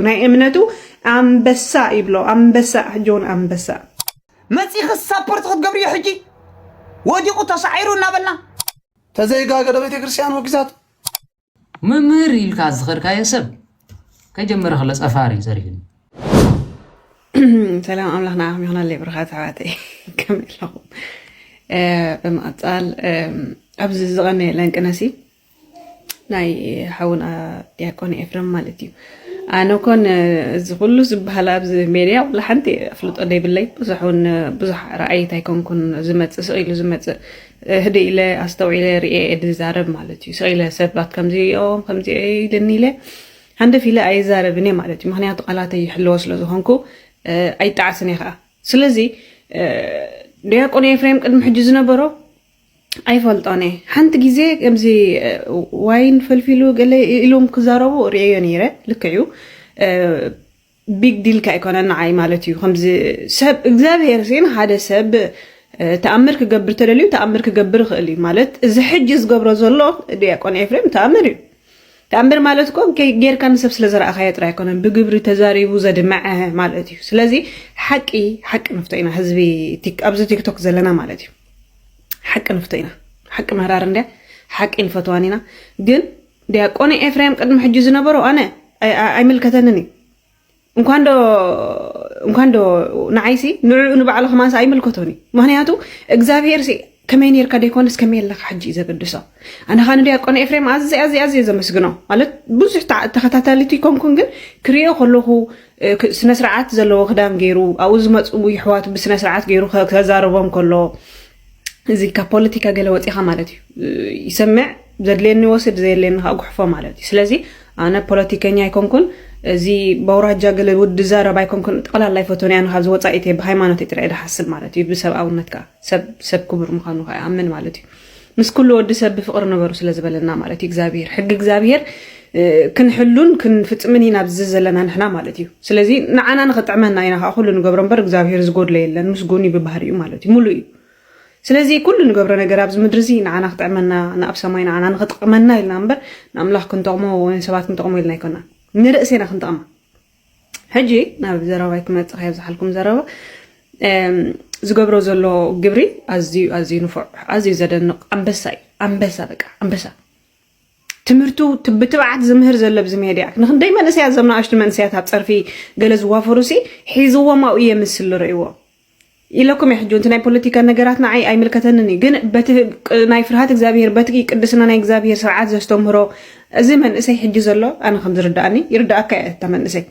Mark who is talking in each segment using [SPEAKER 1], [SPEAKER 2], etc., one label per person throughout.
[SPEAKER 1] ናይ እምነቱ ኣንበሳ ይብሎ ኣንበሳ ጆን ኣንበሳ። መጺኺ
[SPEAKER 2] ሳፖርት ክትገብርዮ ሕጂ ወዲቑ ተሳዒሩ እናበልና። ተዘይጋገዶ
[SPEAKER 3] ቤተክርስትያን ወጊዛቶ።
[SPEAKER 4] መምህር ኢልካ ዝኸድካዮ ሰብ ከይጀመረ ከሎ ጸፋር እዩ ዘሪኡኒ።
[SPEAKER 1] ሰላም ኣምላኽ ንዓኹም ይኹነለይ ብሩኻት ኣሕዋተይ ከመይ ኣለኹም? ብምቕጻል ኣብዚ ዝቐነየ ለንቅነሲ ናይ ሓውና ዲያቆን ኤፍረም ማለት እዩ ኣነ ኮን እዚ ኩሉ ዝበሃል ኣብዚ ሜድያ ኩሉ ሓንቲ ኣፍልጦ ዘይብለይ ብዙሕ እውን ብዙሕ ረኣይት ኣይኮንኩን ዝመፅእ ስቕ ኢሉ ዝመፅእ ህደ ኢለ ኣስተውዒለ ርኤ ዝዛረብ ማለት እዩ ስቕ ኢለ ሰባት ከምዚኦም ከምዚ ኢልኒ ኢለ ሃንደፍ ኢለ ኣይዛረብን እየ ማለት እዩ ምክንያቱ ቃላት ይሕለዎ ስለ ዝኾንኩ ኣይጣዓስን እየ ከዓ ስለዚ ዲያቆን ኤፍሬም ቅድሚ ሕጂ ዝነበሮ ኣይፈልጦን እየ ሓንቲ ግዜ ከምዚ ዋይን ፈልፊሉ ገለ ኢሎም ክዛረቡ ርእየዮ ነይረ ልክዕ እዩ ቢግ ዲል ከ ኣይኮነን ንዓይ ማለት እዩ ከምዚ ሰብ እግዚኣብሄር ሲ ንሓደ ሰብ ተኣምር ክገብር ተደልዩ ተኣምር ክገብር ይኽእል እዩ ማለት እዚ ሕጂ ዝገብሮ ዘሎ ዲያቆን ኤፍሬም ተኣምር እዩ ተኣምር ማለት እኮ ጌርካ ንሰብ ስለ ዘረኣኻዮ ጥራይ ኣይኮነን ብግብሪ ተዛሪቡ ዘድመዐ ማለት እዩ። ስለዚ ሓቂ ሓቂ ንፍቶ ኢና ህዝቢ ኣብዚ ቲክቶክ ዘለና ማለት እዩ። ሓቂ ንፍቶ ኢና ሓቂ መራር እንድያ ሓቂ ንፈትዋን ኢና ግን ዲያቆን ኤፍሬም ቅድሚ ሕጂ ዝነበሮ ኣነ ኣይምልከተንን እዩ እንኳን ዶ እንኳን ዶ ንዓይሲ ንዕኡ ንባዕሉ ከማንስ ኣይምልከቶን እዩ ምክንያቱ እግዚኣብሄር ከመይ ነርካ ደይኮነስ ከመይ ኣለካ ሕጂ እዩ ዘገድሶ ኣነ ካ ንዲያቆን ኤፍሬም ኣዝየ ኣዝየ ኣዝየ ዘመስግኖ ማለት ብዙሕ ተኸታታሊት ይኮንኩን ግን ክሪኦ ከለኹ ስነስርዓት ዘለዎ ክዳን ገይሩ ኣብኡ ዝመፁ ይሕዋቱ ብስነስርዓት ገይሩ ከዛረቦም ከሎ እዚ ካብ ፖለቲካ ገለ ወፂኻ ማለት እዩ ይሰምዕ ዘድልየኒ ወስድ ዘየድልየኒ ከዓ ጉሕፎ ማለት እዩ ስለዚ ኣነ ፖለቲከኛ ኣይኮንኩን እዚ በውራጃ ገለ ውድ ዛረብ ኣይኮንኩን ጠቕላላ ይፈቶን እያ ካብዚ ወፃኢት እየ ብሃይማኖት እየ ጥራይ ዝሓስብ ማለት እዩ ብሰብኣውነት ከዓ ሰብ ክቡር ምዃኑ ከዓ ይኣምን ማለት እዩ ምስ ኩሉ ወዲ ሰብ ብፍቅሪ ንበሩ ስለ ዝበለና ማለት እዩ እግዚኣብሄር ሕጊ እግዚኣብሄር ክንሕሉን ክንፍጽምን ኢና ኣብዚ ዘለና ንሕና ማለት እዩ ስለዚ ንዓና ንክጥዕመና ኢና ከዓ ኩሉ ንገብሮ እምበር እግዚኣብሄር ዝጎድሎ የለን ምስ ጎኒ ብባህሪ እዩ ማለት እዩ ሙሉ እዩ ስለዚ ኩሉ ንገብሮ ነገር ኣብዚ ምድሪ እዚ ንዓና ክጥዕመና ንኣብ ሰማይ ንዓና ንክጥቅመና ኢልና እምበር ንኣምላኽ ክንጠቕሞ ወይ ንሰባት ክንጠቕሞ ኢልና ኣይኮናን ንርእሴና ክንጠቕማ ሕጂ ናብ ዘረባይ ክመጽእ ከይ ኣብዝሓልኩም ዘረባ ዝገብሮ ዘሎ ግብሪ ኣዝዩ ኣዝዩ ንፉዕ ኣዝዩ ዘደንቕ ኣንበሳ እዩ ኣንበሳ በቃ ኣንበሳ ትምህርቱ ብትብዓት ዝምህር ዘሎ ብዚ ሜድያ ንክንደይ መንእሰያት እዞም ንኣሽቱ መንእሰያት ኣብ ፀርፊ ገለ ዝዋፈሩ ሲ ሒዝዎም ኣብኡ የምስል ርእይዎ ኢለኩም እየ ሕጂ ውን እቲ ናይ ፖለቲካ ነገራት ንዓይ ኣይምልከተንን እዩ ግን በቲ ናይ ፍርሃት እግዚኣብሄር በቲ ቅድስና ናይ እግዚኣብሄር ስርዓት ዘስተምህሮ እዚ መንእሰይ ሕጂ ዘሎ ኣነ ከም ዝርድኣኒ ይርድኣካ እየ እታ መንእሰይ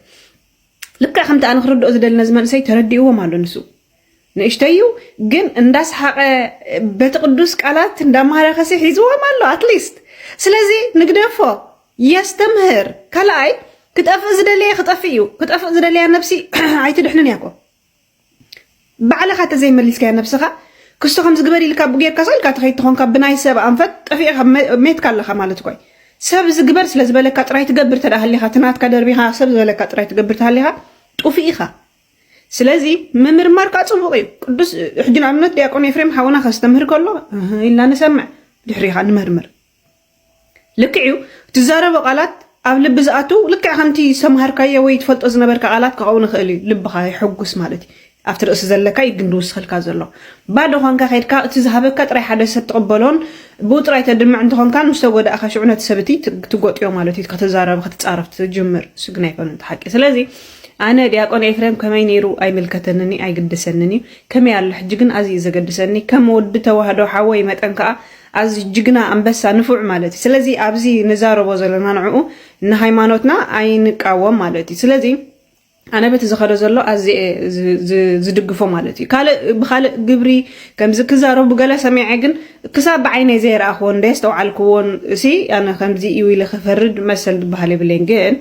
[SPEAKER 1] ልክዕ ከምቲ ኣነ ክርድኦ ዝደሊ ነዚ መንእሰይ ተረዲእዎም ኣሎ ንሱ ንእሽተይ እዩ ግን እንዳሰሓቀ በቲ ቅዱስ ቃላት እንዳማረኸሲ ሒዝዎም ኣሎ ኣትሊስት ስለዚ ንግደፎ የስተምህር ካልኣይ ክጠፍእ ዝደለየ ክጠፍእ እዩ ክጠፍእ ዝደለያ ነብሲ ኣይትድሕንን እያ እኮ ባዕልኻ ተዘይ መሊስካያ ነብስኻ ክስቶ ከምዚ ግበሪ ኢልካ ኣቡ ጌርካ ስቅ ኢልካ ተኸይድ ተኾንካ ብናይ ሰብ ኣንፈት ጠፊእኻ ሜትካ ኣለኻ ማለት እኳዩ ሰብ እዚ ግበር ስለ ዝበለካ ጥራይ ትገብር ተደኣ ሃሊኻ እቲ ናትካ ደርቢኻ ሰብ ዝበለካ ጥራይ ትገብር ተሃሊኻ ጡፊእ ኢኻ ስለዚ ምምርማር ከዓ ፅቡቅ እዩ ቅዱስ ሕጂ ንኣብነት ዲያቆን ኤፍሬም ሓውና ከስተምህር ከሎ ኢልና ንሰምዕ ድሕሪኻ ንመርምር ልክዕ እዩ ትዛረቦ ቃላት ኣብ ልቢ ዝኣትው ልክዕ ከምቲ ዝተምሃርካዮ ወይ ትፈልጦ ዝነበርካ ቃላት ክኸውን ይኽእል እዩ ልብኻ የሐጉስ ማለት እዩ ኣብቲ ርእሲ ዘለካ እዩ ግን ድውስኸልካ ዘሎ ባዶ ኾንካ ከድካ እቲ ዝሃበካ ጥራይ ሓደ ሰብ ትቕበሎን ብኡ ጥራይ ተድምዕ እንተኾንካን ምስ ተጎዳእኻ ሽዑ ነቲ ሰብ እቲ ትጎጥዮ ማለት እዩ ከተዛረብ ክትፃረፍ ትጅምር እሱ ግን ኣይኮነን ተሓቂ ስለዚ ኣነ ዲያቆን ኤፍሬም ከመይ ነይሩ ኣይምልከተንን እዩ ኣይግድሰንን እዩ ከመይ ኣሎ ሕጂ ግን ኣዝዩ ዘገድሰኒ ከም ወዲ ተዋህዶ ሓወይ መጠን ከዓ ኣዚ ጅግና ኣንበሳ ንፉዕ ማለት እዩ ስለዚ ኣዚ ንዛረቦ ዘለና ንዑኡ ንሃይማኖትና ኣይንቃወም ማለት እዩ ስለዚ ኣነ በቲ ዝኸደ ዘሎ ኣዚየ ዝድግፎ ማለት እዩ ካልእ ብካልእ ግብሪ ከምዚ ክዛረቡ ገለ ሰሚዐ ግን ክሳብ ብዓይነይ ዘይረኣኽዎን ደየስተውዓልክዎን እሲ ኣነ ከምዚ እዩ ኢለ ክፈርድ መሰል ዝበሃል የብለይን ግን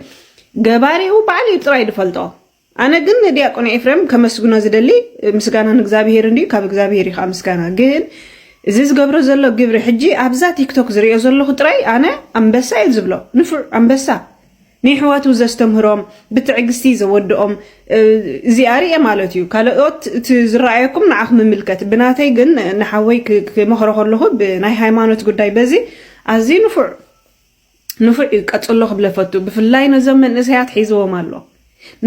[SPEAKER 1] ገባሪኡ ባዕሉ እዩ ጥራይ ዝፈልጦ ኣነ ግን ንዲያቆን ኤፍሬም ከመስግኖ ዝደሊ ምስጋና ንእግዚኣብሄር እንድዩ ካብ እግዚኣብሄር እዩ ከዓ ምስጋና ግን እዚ ዝገብሮ ዘሎ ግብሪ ሕጂ ኣብዛ ቲክቶክ ዝሪኦ ዘለኹ ጥራይ ኣነ ኣንበሳ እዩ ዝብሎ ንፉዕ ኣንበሳ ንይሕዋቱ ዘስተምህሮም ብትዕግስቲ ዘወድኦም እዚኣ ርየ ማለት እዩ ካልኦት እቲ ዝረኣየኩም ንዓኹም ምምልከት ብናተይ ግን ንሓወይ ክመኽሮ ከለኹ ብናይ ሃይማኖት ጉዳይ በዚ ኣዝዩ ንፉዕ ንፉዕ እዩ ቀጽሎ ክብለ እፈቱ ብፍላይ ነዞም መንእሰያት ሒዝዎም ኣሎ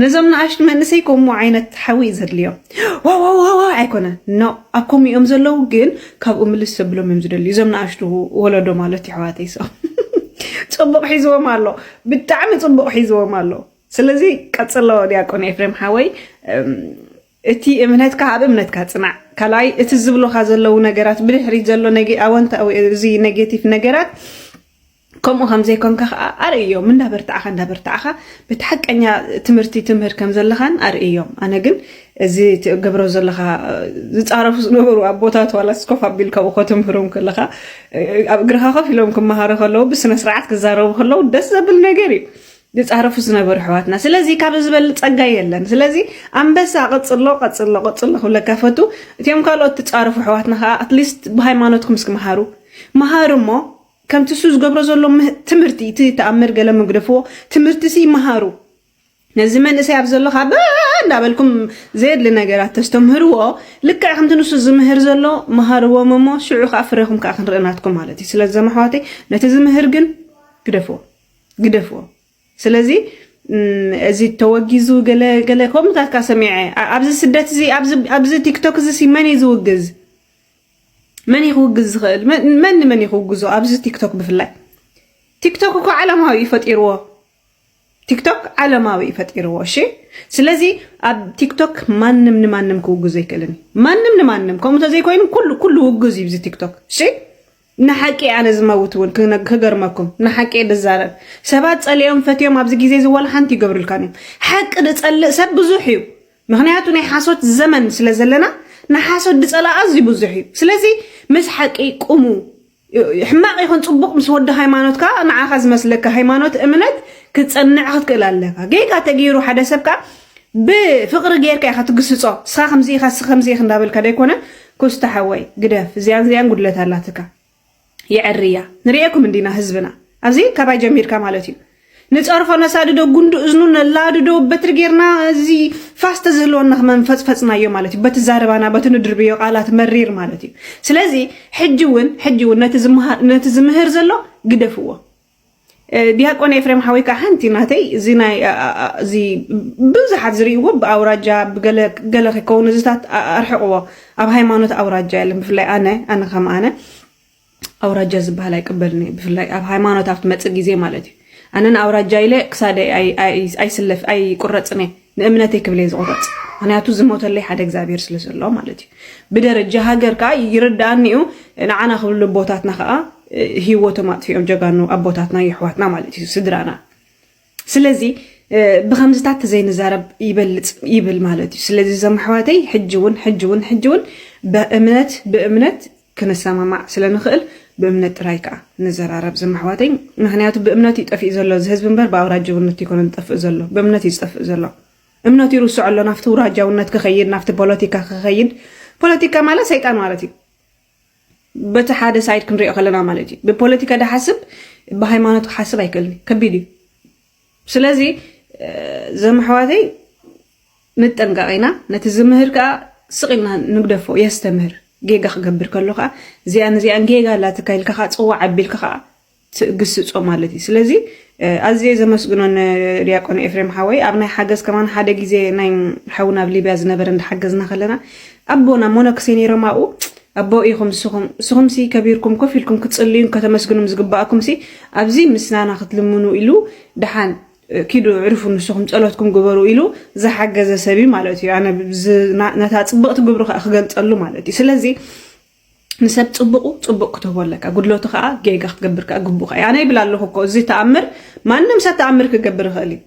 [SPEAKER 1] ነዞም ንኣሽቱ መንእሰይ ከምኡ ዓይነት ሓዊ እዩ ዘድልዮም ዋዋዋዋ ኣይኮነ ኖ ኣብ ከምኡ እዮም ዘለዉ ግን ካብኡ ምልስ ዘብሎም እዮም ዝደልዩ እዞም ንኣሽቱ ወለዶ ማለት ይሕዋተይ ሰ ጽቡቕ ሒዝዎም ኣሎ ብጣዕሚ ጽቡቕ ሒዝዎም ኣሎ ስለዚ ቀጽሎ ዲያቆን ኤፍሬም ሓወይ እቲ እምነትካ ኣብ እምነትካ ጽናዕ ካልኣይ እቲ ዝብሉኻ ዘለዉ ነገራት ብድሕሪት ዘሎ ነግ ኣወንታዊ እዚ ኔጌቲቭ ነገራት ከምኡ ከም ዘይኮንካ ከዓ ኣርእዮም እንዳበርታዕኻ እንዳበርታዕኻ በቲ ሓቀኛ ትምህርቲ ትምህር ከም ዘለኻን ኣርእዮም ኣነ ግን እዚ ትገብሮ ዘለኻ ዝፃረፉ ዝነበሩ ኣቦታት ዋላ ስኮፍ ኣቢል ካብኡ ከተምህሮም ከለኻ ኣብ እግርኻ ኮፍ ኢሎም ክመሃሩ ከለዉ ብስነ ስርዓት ክዛረቡ ከለዉ ደስ ዘብል ነገር እዩ ዝጻረፉ ዝነበሩ ኣሕዋትና ስለዚ ካብ ዝበል ጸጋ የለን ስለዚ ኣንበሳ ቀጽሎ ቀጽሎ ቀጽሎ ክብለካ ፈቱ እቲኦም ካልኦት ትጻረፉ ኣሕዋትና ከኣ ኣትሊስት ብሃይማኖትኩም እስኪ መሃሩ መሃሩ እሞ ከምቲ እሱ ዝገብሮ ዘሎ ትምህርቲ እቲ ተኣምር ገለ መግደፍዎ ትምህርቲ ሲ መሃሩ ነዚ መንእሰይ ኣብ ዘሎ ካብ እንዳበልኩም ዘየድሊ ነገራት ተስተምህርዎ ልክዕ ከምቲ ንሱ ዝምህር ዘሎ መሃርዎም እሞ ሽዑ ከዓ ፍረኹም ከዓ ክንርኢ ናትኩም ማለት እዩ ስለዚ ዘመሕዋተይ ነቲ ዝምህር ግን ግደፍዎ ግደፍዎ ስለዚ እዚ ተወጊዙ ገለ ገለ ከምኡታት ካ ሰሚዐ ኣብዚ ስደት እዚ ኣብዚ ቲክቶክ እዚ ሲ መን እዩ ዝውግዝ መን እዩ ክውግዝ ዝኽእል መን ንመን እዩ ክውግዞ ኣብዚ ቲክቶክ ብፍላይ ቲክቶክ እኮ ዓለማዊ እዩ ፈጢርዎ ቲክቶክ ዓለማዊ እዩ ፈጢርዎ እሺ ስለዚ ኣብ ቲክቶክ ማንም ንማንም ክውግዞ ኣይክእልን ማንም ንማንም ከምኡ ተዘይኮይኑ ኩሉ ኩሉ ውግዝ እዩ እዚ ቲክቶክ እሺ ንሓቂ ኣነ ዝመውት ውን ክገርመኩም ንሓቂ እየ ድዛረብ ሰባት ጸሊኦም ፈትዮም ኣብዚ ግዜ እዚ ዋላ ሓንቲ ይገብርልካን እዮም ሓቂ ድጸልእ ሰብ ብዙሕ እዩ ምክንያቱ ናይ ሓሶት ዘመን ስለ ዘለና ንሓሶት ድጸላ ኣዝዩ ብዙሕ እዩ ስለዚ ምስ ሓቂ ቁሙ ሕማቅ ይኹን ጽቡቅ ምስ ወዲ ሃይማኖት ከኣ ንዓኻ ዝመስለካ ሃይማኖት እምነት ክትጸንዕ ክትክእል ኣለካ ጌጋ ተገይሩ ሓደ ሰብ ከኣ ብፍቅሪ ገይርካ ኢካ ትግስጾ እስካ ከምዚ ኢካ እስኪ ከምዚ ኢኪ እንዳበልካ ደይኮነ ኩስታ ሓወይ ግደፍ እዚኣን እዚኣን ጉድለት ኣላትካ የዐርያ ንርኤኩም እንዲና ህዝብና ኣብዚ ካባይ ጀሚርካ ማለት እዩ ንጸርፎ ነሳድዶ ጉንዲ እዝኑ ነላድዶ በትሪ ጌርና እዚ ፋስ ተዝህልወና ክመንፈጽፈጽናዮ ማለት እዩ በቲ ዛረባና በቲ ንድርብዮ ቃላት መሪር ማለት እዩ ስለዚ ሕጂ እውን ሕጂ እውን ነቲ ዝምህር ዘሎ ግደፍዎ ድያቆን ኤፍሬም ሓወይ ከኣ ሓንቲ ናተይ እዚ ናይ እዚ ብዙሓት ዝርእይዎ ብኣውራጃ ብገለ ገለ ከይከውን እዚታት ኣርሕቕዎ ኣብ ሃይማኖት ኣውራጃ የለን ብፍላይ ኣነ ኣነ ከም ኣነ ኣውራጃ ዝበሃል ኣይቅበልን እዩ ብፍላይ ኣብ ሃይማኖት ኣብ ትመፅእ ግዜ ማለት እዩ ኣነ ንኣውራጃ ኢለ ክሳደይ ኣይስለፍ ኣይቁረፅን እየ ንእምነተይ ክብልየ ዝቑረፅ ምክንያቱ ዝሞተለይ ሓደ እግዚኣብሔር ስለ ዘሎ ማለት እዩ ብደረጃ ሃገር ከዓ ይርዳኣኒ እዩ ንዓና ክብሉ ኣቦታትና ከዓ ሂወቶም ኣጥፊኦም ጀጋኑ ኣቦታትና የሕዋትና ማለት እዩ ስድራና ስለዚ ብከምዝታት ተዘይንዛረብ ይበልፅ ይብል ማለት እዩ ስለዚ ዘም ኣሕዋተይ ሕጂ እውን ሕጂ እውን ሕጂ እውን ብእምነት ብእምነት ክንሰማማዕ ስለ ንኽእል ብእምነት ጥራይ ከኣ ንዘራረብ ዝም ኣሕዋተይ ምኽንያቱ ብእምነት እዩ ጠፊኡ ዘሎ እዚ ህዝቢ እምበር ብኣውራጀውነት ኣይኮነን ዝጠፍእ ዘሎ ብእምነት እዩ ዝጠፍእ ዘሎ እምነቱ ይርስዖ ኣሎ ናብቲ ውራጃውነት ክኸይድ ናብቲ ፖለቲካ ክኸይድ ፖለቲካ ማለት ሰይጣን ማለት እዩ በቲ ሓደ ሳይድ ክንሪኦ ከለና ማለት እዩ ብፖለቲካ ድሓስብ ብሃይማኖት ክሓስብ ኣይክእልን ከቢድ እዩ ስለዚ ዘም ኣሕዋተይ ንጠንቀቕ ኢና ነቲ ዝምህር ከዓ ስቕ ኢልና ንግደፎ የስተምህር ጌጋ ክገብር ከሎ ከዓ እዚኣን እዚኣን ጌጋ ኣላትካ ኢልካ ከዓ ፅዋዕ ኣቢልካ ከዓ ትግስፆ ማለት እዩ ስለዚ ኣዝየ ዘመስግኖ ንዲያቆን ኤፍሬም ሓወይ ኣብ ናይ ሓገዝ ከማን ሓደ ግዜ ናይ ሓውና ኣብ ሊብያ ዝነበረ እንዳሓገዝና ከለና ኣቦና ሞነክሴ ነይሮም ኣብኡ። ኣቦ ኢኹም ንስኹም። ንስኹምሲ ከቢርኩም ኮፍ ኢልኩም ክትጽልዩን ከተመስግኑን ዝግባኣኩምሲ ኣብዚ ምስናና ክትልምኑ ኢሉ ደሓን ኪዱ ዕርፉ ንስኹም ጸሎትኩም ግበሩ ኢሉ ዝሓገዘ ሰብ እዩ ማለት እዩ። ኣነ ነታ ጽብቕቲ ግብሩ ከዓ ክገልጸሉ ማለት እዩ። ስለዚ ንሰብ ጽቡቑ ጽቡቕ ክትህቦ ኣለካ፣ ጉድለቱ ከዓ ጌጋ ክትገብር ከዓ ግቡእ ኣነ ይብል ኣለኹ እኮ እዚ ተኣምር ማንም ሰብ ተኣምር ክገብር ይኽእል እዩ።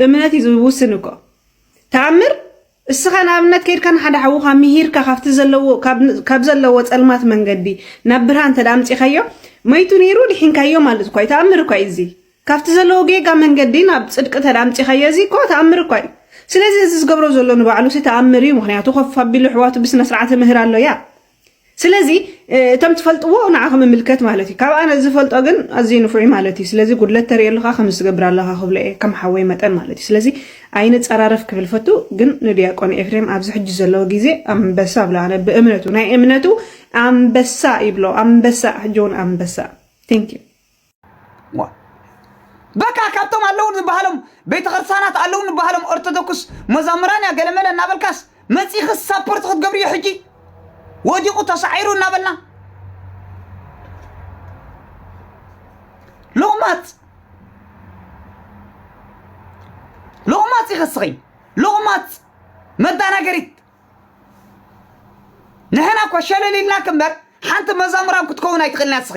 [SPEAKER 1] እምነት እዩ ዝውስን እኮ ተኣምር እስኻ ንኣብነት ከይድካ ንሓደ ሓውኻ ምሂርካ ካብቲ ዘለዎ ካብ ዘለዎ ጸልማት መንገዲ ናብ ብርሃን እንተ ኣምጺኻዮ መይቱ ነይሩ ድሒንካዮ ማለት እኳ እዩ ተኣምር እኳ እዩ እዚ ካብቲ ዘለዎ ጌጋ መንገዲ ናብ ጽድቂ እንተ ኣምጺኻዮ እዚ እኮ ተኣምር እኳ እዩ ስለዚ እዚ ዝገብሮ ዘሎ ንባዕሉ ሲ ተኣምር እዩ ምክንያቱ ኮፍ ኣቢሉ ኣሕዋቱ ብስነ ስርዓት ምህር ኣሎያ ስለዚ እቶም ትፈልጥዎ ንዓኹም ይምልከት ማለት እዩ። ካብ ኣነ ዝፈልጦ ግን ኣዝዩ ንፉዕ ማለት እዩ። ስለዚ ጉድለት ተርእየሉኻ ከምዚ ትገብር ኣለኻ ክብሎ እየ ከም ሓወይ መጠን ማለት እዩ። ስለዚ ኣይንጸራረፍ ክብል ፈቱ። ግን ንድያቆን ኤፍሬም ኣብዚ ሕጂ ዘለዎ ግዜ ኣንበሳ ብሎ ኣነ ብእምነቱ ናይ እምነቱ ኣንበሳ ይብሎ ኣንበሳ ሕጂ እውን ኣንበሳ ቴንክ ዩ ዋ
[SPEAKER 2] በቃ ካብቶም ኣለዉ ዝበሃሎም ቤተ ክርስቲያናት ኣለዉ ዝበሃሎም ኦርቶዶክስ መዛምራን እያ ገለመለ እናበልካስ መፂእኺ ሳፖርት ክትገብርዮ ሕጂ ወዲቑ ተሳዒሩ እናበልና ሎቕማፅ ሎቕማፅ ኢኺ እስኺ ሎቕማፅ መዳናገሪት ንሕና እኮ ሸለል ኢልናክ እምበር ሓንቲ መዛሙራን ክትከውን ኣይትኽእልና እስኺ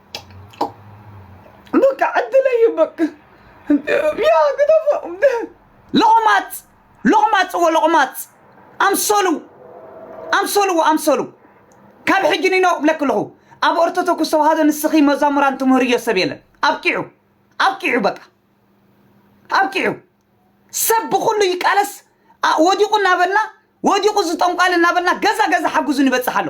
[SPEAKER 2] በቃ ዕድለይ በቃ ያ ግደፎ ሎቕማፅ ሎቕማፅ እዎ ሎቕማፅ ኣምሰሉ ኣምሰሉ እዎ ኣምሰሉ ካብ ሕጂ ንኖ እብለኪ ኣለኹ ኣብ ኦርቶዶክስ ተዋህዶ ንስኺ መዛሙራን ትምህርዮ ሰብ የለን ኣብቂዑ ኣብቂዑ በቃ ኣብቂዑ ሰብ ብኩሉ ይቃለስ ኣ- ወዲቁ እናበልና ወዲቁ ዝጠንቋል እናበልና ገዛ ገዛ ሓጉዙ ንበፅሕ ኣሎ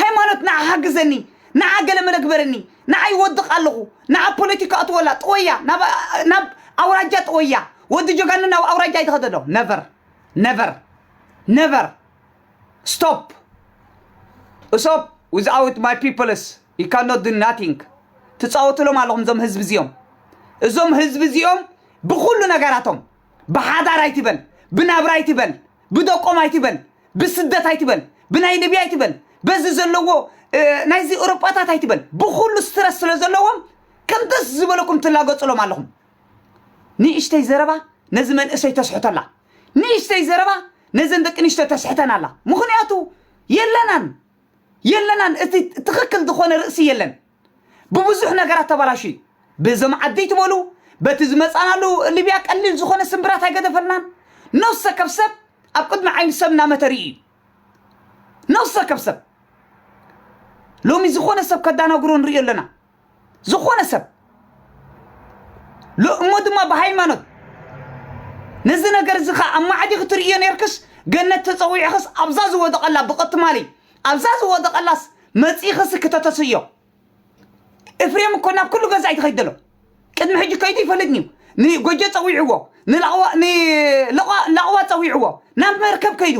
[SPEAKER 2] ሃይማኖት ንዓ ሓግዘኒ ንዓ ገለ መለ ግበረኒ ንዓ ይወድቕ ኣለኹ ንዓ ፖለቲካ ኣትወላ ጥወያ ናብ ኣ- ናብ ኣውራጃ ጥወያ ወዲ ጀጋኑ ናብ ኣውራጃ ኣይትኸደዶ ነቨር ነቨር ነቨር ስቶፕ እሶብ ዊዝኣውት ማይ ፒፕልስ ዩ ካን ኖት ዱ ናቲንግ ትፃወትሎም ኣለኹም እዞም ህዝቢ እዚኦም እዞም ህዝቢ እዚኦም ብኩሉ ነገራቶም ብሓዳር ኣይትበል ብናብራ ኣይትበል ብደቆም ኣይትበል ብስደት ኣይትበል ብናይ ልብያ ኣይትበል በዚ ዘለዎ እ፣ ናይዚ ኤውሮጳታት ኣይትበል ብኩሉ ስትረስ ስለ ዘለዎም ከም ደስ ዝበለኩም ትላገጽሎም ኣለኹም ንእሽተይ ዘረባ ነዚ መንእሰይ ተስሕተላ ንእሽተይ ዘረባ ነዘን ደቂ ንሽቶ ተስሕተን ኣላ ምክንያቱ የለናን የለናን እቲ ትክክል ዝኾነ ርእሲ የለን ብብዙሕ ነገራት ተባላሹ እዩ ብዞም ዓደይ ትበሉ በቲ ዝመፃናሉ ሊብያ ቀሊል ዝኾነ ስምብራት ኣይገደፈልናን ነፍሰ ከብ ሰብ ኣብ ቅድሚ ዓይኒ ሰብ እናመተሪ እዩ ነፍሰ ከብ ሰብ ሎሚ ዝኾነ ሰብ ከዳናግሮ ንሪኦ ኣለና ዝኾነ ሰብ ሎ- እሞ ድማ ብሃይማኖት ነዚ ነገር እዚ ከዓ ኣብ ማዕዲ ክትርእዮ ነርክስ ገነት ተፀዊዕኽስ ኣብዛ ዝወደቐላ ብቐትማሊ ኣብዛ ዝወደቐላስ መጺእኽሲ ክተተስዮ። እፍሬም እኮ ናብ ኩሉ ገዛ እዩ ትኸይድ ዘሎ። ቅድሚ ሕጂ ከይዱ ይፈልጥንዩ። ንጎጆ ጸዊዕዎ፣ ንላቕዋ ንላቕዋ ላቕዋ ጸዊዕዎ፣ ናብ መርከብ ከይዱ፣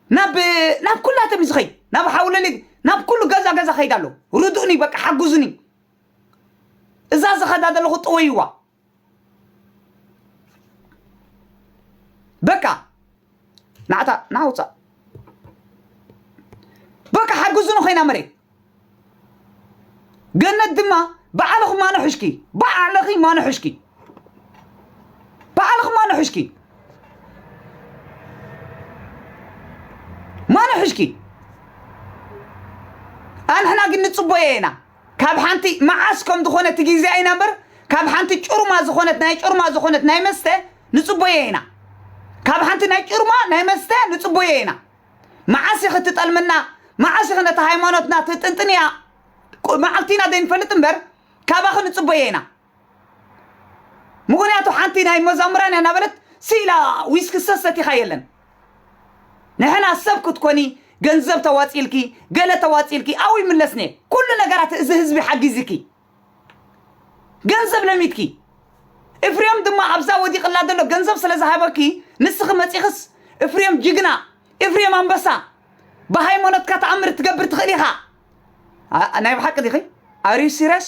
[SPEAKER 2] ናብ ናብ ኩላቶም እዩ ዝኸይድ። ናብ ሓውለሊ ናብ ኩሉ ገዛ ገዛ ከይድ ኣሎ። ርድኡኒ በቃ ሓግዙኒ። እዛ ዝኸዳ ዘለኹ ጥወይዋ በቃ ናዕታ ናዓ ውፃእ በቃ ሓግዙኒ ኮይና መሬት ገነት ድማ ባዕልኹ ማንሑሽኪ ባዕልኺ ማንሑሽኪ ባዕልኺ ማንሑሽኪ ማንሑሽኪ ኣንሕና ግን ንፅቦ ኢና ካብ ሓንቲ መዓስ ከም ዝኾነ እቲ ግዜ ኢና እምበር ካብ ሓንቲ ጩርማ ዝኾነት ናይ ጩርማ ዝኾነት ናይ መስተ ንጽቦዬ ኢና ካብ ሓንቲ ናይ ጩርማ ናይ መስተ ንጽቦዬ ኢና መዓስ ኢኺ ትጠልምና መዓስ ኢኺ ነታ ሃይማኖትና ትጥንጥንያ መዓልቲ ኢና ዘይንፈልጥ እምበር ካባኺ ንጽቦዬ ኢና ምክንያቱ ሓንቲ ናይ መዛሙራን እያ እናበለት ስኢላ ዊስኪ ሰሰቲኻ የለን ንሕና ሰብ ክትኮኒ ገንዘብ ተዋፂልኪ ገለ ተዋፂልኪ ኣው ይምለስኔ ኩሉ ነገራት እዚ ህዝቢ ሓጊዝኪ ገንዘብ ለሚትኪ እፍርዮም ድማ ኣብዛ ወዲቕላ ዘሎ ገንዘብ ስለ ዝሃበኪ ንስኺ መፂኽስ እፍርዮም ጅግና እፍርዮም ኣንበሳ ብሃይማኖትካ ተኣምር ትገብር ትኽእል ኢኻ ናይ ብሓቂ ዲኺ ኣር ዩ ሲሪየስ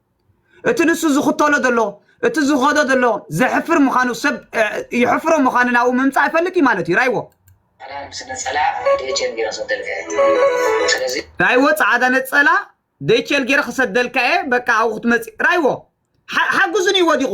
[SPEAKER 2] እቲ ንሱ ዝኽተሎ ዘሎ እቲ ዝኸዶ ዘሎ ዘሕፍር ምዃኑ ሰብ ይሕፍሮ ምዃኑ ናብኡ ምምፃእ ይፈልጥ እዩ ማለት እዩ ራይዎ ራይዎ ፃዕዳ ነፀላ ደይቸል ገይረ ክሰደልካ እየ በቃ ኣብኡ ክትመፅእ ራይዎ ሓግዙን እዩ ወዲቑ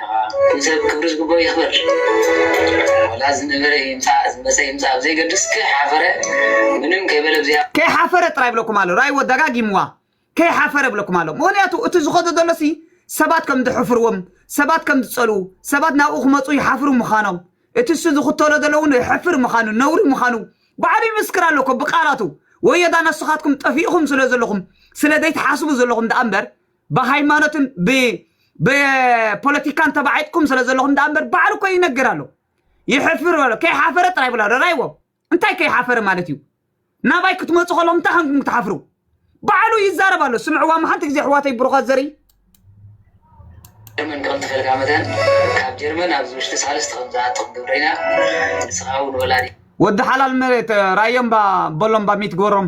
[SPEAKER 5] ኩሉ ሰብ ክብሪ ዝግብኦ ይክበር ዋላ ዝነበረ ይምፃእ ዝመፀ ይምፃእ ብዘይገድስ ከይሓፈረ ምንም ከይበለ ብዘይ ከይሓፈረ ጥራይ ይብለኩም
[SPEAKER 2] ኣሎ ራይዎ ደጋጊምዋ ከይሓፈረ ይብለኩም ኣሎ ምክንያቱ እቲ ዝከዶ ዘሎ ሲ ሰባት ከም ዝሕፍርዎም ሰባት ከም ዝፀልኡ ሰባት ናብኡ ክመፁ ይሓፍሩ ምካኖም እቲ እሱ ዝክተሎ ዘሎ እውን የሕፍር ምካኑ ነውሪ ምካኑ ባዕሉ ይምስክር ኣሎ እኮ ብቃላቱ ወዮዳ ነስካትኩም ጠፊእኩም ስለ ዘለኩም ስለ ዘይትሓስቡ ዘለኩም ደኣ እምበር ብሃይማኖትን ብፖለቲካን ተባዒጥኩም ስለ ዘለኹም ደኣ እምበር ባዕሉ እኮ ይነግር ኣሎ ይሕፍር በሎ ከይሓፈረ ጥራይ ብላ ረኣይዎ እንታይ ከይሓፈረ ማለት እዩ ናባይ ክትመፁ ከለኹም እንታይ ከምኩም ክትሓፍሩ ባዕሉ ይዛረብ ኣሎ ስምዕዋ መሓንቲ ግዜ ኣሕዋተይ ብሩኻት ዘርኢ ጀርመን
[SPEAKER 5] ከም ትፈልጋ መጠን ካብ ጀርመን ኣብዚ ውሽጢ ሳልስቲ ከም ዝኣትኹም ግብሪና ንስኻ እውን ወላዲ ወዲ ሓላል መሬት
[SPEAKER 2] ራዮም ባ በሎም ባ ሚት ግበሮም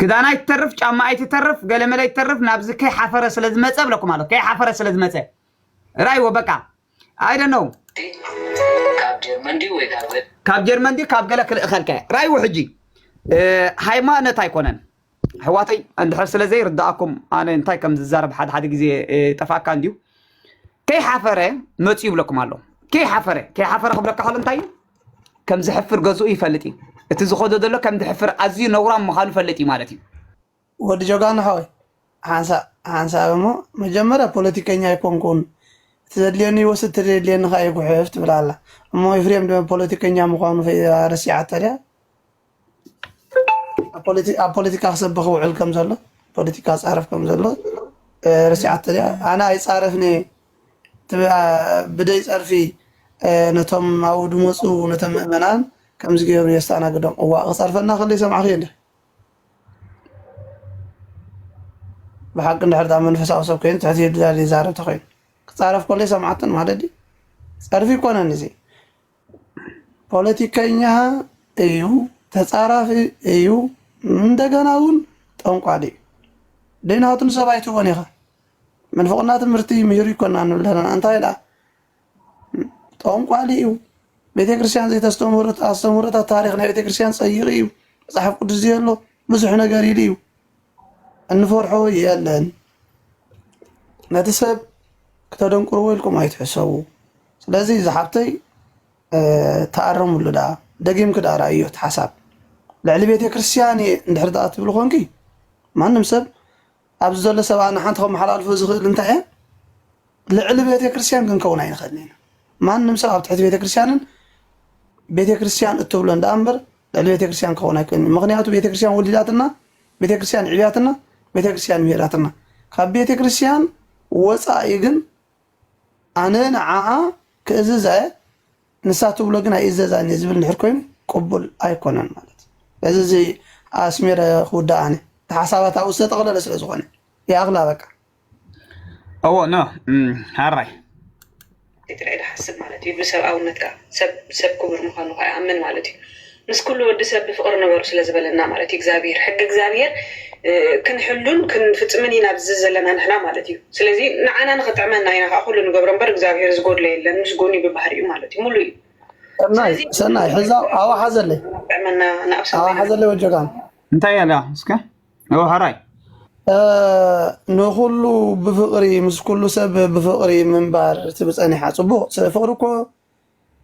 [SPEAKER 5] ክዳና ይትተርፍ ጫማ
[SPEAKER 2] ይትተርፍ ገለመለ ይትተርፍ ናብዚ ከይ ሓፈረ ስለ ዝመጸ ብለኩም ኣሎ ከይ ሓፈረ ስለ ዝመጸ ራይዎ በቃ ኣይደ ነው
[SPEAKER 5] ካብ ጀርመን ድዩ ካብ
[SPEAKER 2] ገለ ክልእኸልከ ራይዎ ሕጂ ሃይማኖት ኣይኮነን ኣሕዋተይ እንድሕር ስለ ዘይርዳእኩም ኣነ እንታይ ከም ዝዛረብ ሓደ ሓደ ግዜ ጠፋካ እንድዩ ከይሓፈረ መፅኡ ይብለኩም ኣሎ ከይሓፈረ ከይሓፈረ ክብለካ ከሎ እንታይ እዩ ከም ዝሕፍር ገዝኡ ይፈልጥ እዩ። እቲ ዝኸዶ ዘሎ ከም ዝሕፍር ኣዝዩ ነውራም ምዃኑ ይፈልጥ እዩ ማለት እዩ። ወዲ
[SPEAKER 3] ጀጋኑ ሓወይ ሓንሳእ ሓንሳብ እሞ መጀመርያ ፖለቲከኛ ኣይኮንኩን እቲ ዘድልየኒ ይወስድ እቲ ዘየድልየኒ ከኣ ይጉሕፍ ትብል ኣላ እሞ ኤፍሬም ፖለቲከኛ ምኳኑ ረሲዓቶ ድያ? ኣብ ፖለቲካ ክሰብኽ ውዕል ከም ዘሎ ፖለቲካ ፃረፍ ከም ዘሎ ርስዓቶ ያ ኣነ ኣይፃረፍኒ ብደይ ፀርፊ ነቶም ኣብኡ ድመፁ ነቶም ምእመናን ከምዚ ገይሩ የስተኣናግዶም እዋ ክፀርፈና ከለ ይሰማዕኺ እንደ ብሓቂ እንድሕር ዳ መንፈሳዊ ሰብ ኮይኑ ትሕቲ ድላል ይዛረብ ተኮይኑ ክፃረፍ ከሎ ይሰምዓትን ማለት ፀርፊ ይኮነን እዚ ፖለቲከኛ እዩ፣ ተጻራፊ እዩ፣ እንደገና እውን ጠንቋሊ እዩ። ደይናቱ ንሰብ ኣይትቦን ኢኻ ምንፍቕና ትምህርቲ ምሂሩ ይኮና ንብል ዘለና እንታይ ደኣ ጠንቋሊ እዩ። ቤተ ክርስቲያን ዘይተስተምህሮት ኣስተምህሮታት ታሪክ ናይ ቤተ ክርስቲያን ጸይቂ እዩ። መጽሓፍ ቅዱስ ዘየሎ ብዙሕ ነገር ኢሉ እዩ። እንፈርሖ የለን ነቲ ሰብ ክተደንቁርዎ ኢልኩም ኣይትሕሰቡ ስለዚ ዝሓፍተይ ተኣረምሉ ዳ ደጊምኪ ዳ ርኣዮ እቲ ሓሳብ ልዕሊ ቤተክርስትያን እየ እንድሕር ዳኣ ትብሊ ኮንኪ ማንም ሰብ ኣብዚ ዘሎ ሰብ ኣነ ሓንቲ ከመሓላልፎ ዝኽእል እንታይ እየ ልዕሊ ቤተክርስትያን ክንከውን ኣይንኽእልን ኢና ማንም ሰብ ኣብ ትሕቲ ቤተክርስትያንን ቤተክርስትያን እትብሎን ዳኣ እምበር ልዕሊ ቤተክርስትያን ክኸውን ኣይክእልን እዩ ምኽንያቱ ቤተክርስትያን ወሊዳትና ቤተክርስትያን ዕብያትና ቤተክርስትያን ምሄራትና ካብ ቤተክርስትያን ወፃኢ ግን ኣነ ንዓኣ ክእዝዝ ኣየ ንሳ ትብሎ ግን ኣይእዘዛን እየ ዝብል ንድሕር ኮይኑ ቅቡል ኣይኮነን ማለት እዚ እዚ ኣስሜረ ክውዳእ ኣነ ሓሳባት ኣብኡ ዝተጠቕለለ ስለ ዝኾነ ይኣኽላ በቃ
[SPEAKER 2] እዎ ኖ ሃራይ
[SPEAKER 1] ትግራይ ድሓስብ ማለት እዩ ብሰብኣውነት ከዓ ሰብ ክቡር ምኳኑ ከዓ ይኣምን ማለት እዩ ምስ ኩሉ ወዲ ሰብ ብፍቅሪ ንበሩ ስለዝበለና ማለት እዩ እግዚኣብሄር ሕጊ እግዚኣብሄር ክንሕሉን ክንፍፅምን ኢና ኣብዚ ዘለና ንሕና ማለት እዩ ስለዚ ንዓና ንክጥዕመና ኢና ከዓ ኩሉ ንገብሮ እምበር እግዚኣብሄር ዝጎድሎ የለን ምስ ጎኒ ብባህሪ እዩ ማለት እዩ ሙሉ እዩ ሰናይ
[SPEAKER 3] ሰናይ ሕዛ ኣዋ ሓዘለይ ጥዕመና ንኣብሰ ኣዋ
[SPEAKER 1] ሓዘለይ ወጆጋን
[SPEAKER 3] እንታይ ያለ
[SPEAKER 2] እስከ እዎ ሐራይ ንኹሉ
[SPEAKER 3] ብፍቕሪ ምስ ኩሉ ሰብ ብፍቕሪ ምንባር ትብ ጸኒሓ ጽቡቕ ፍቕሪ እኮ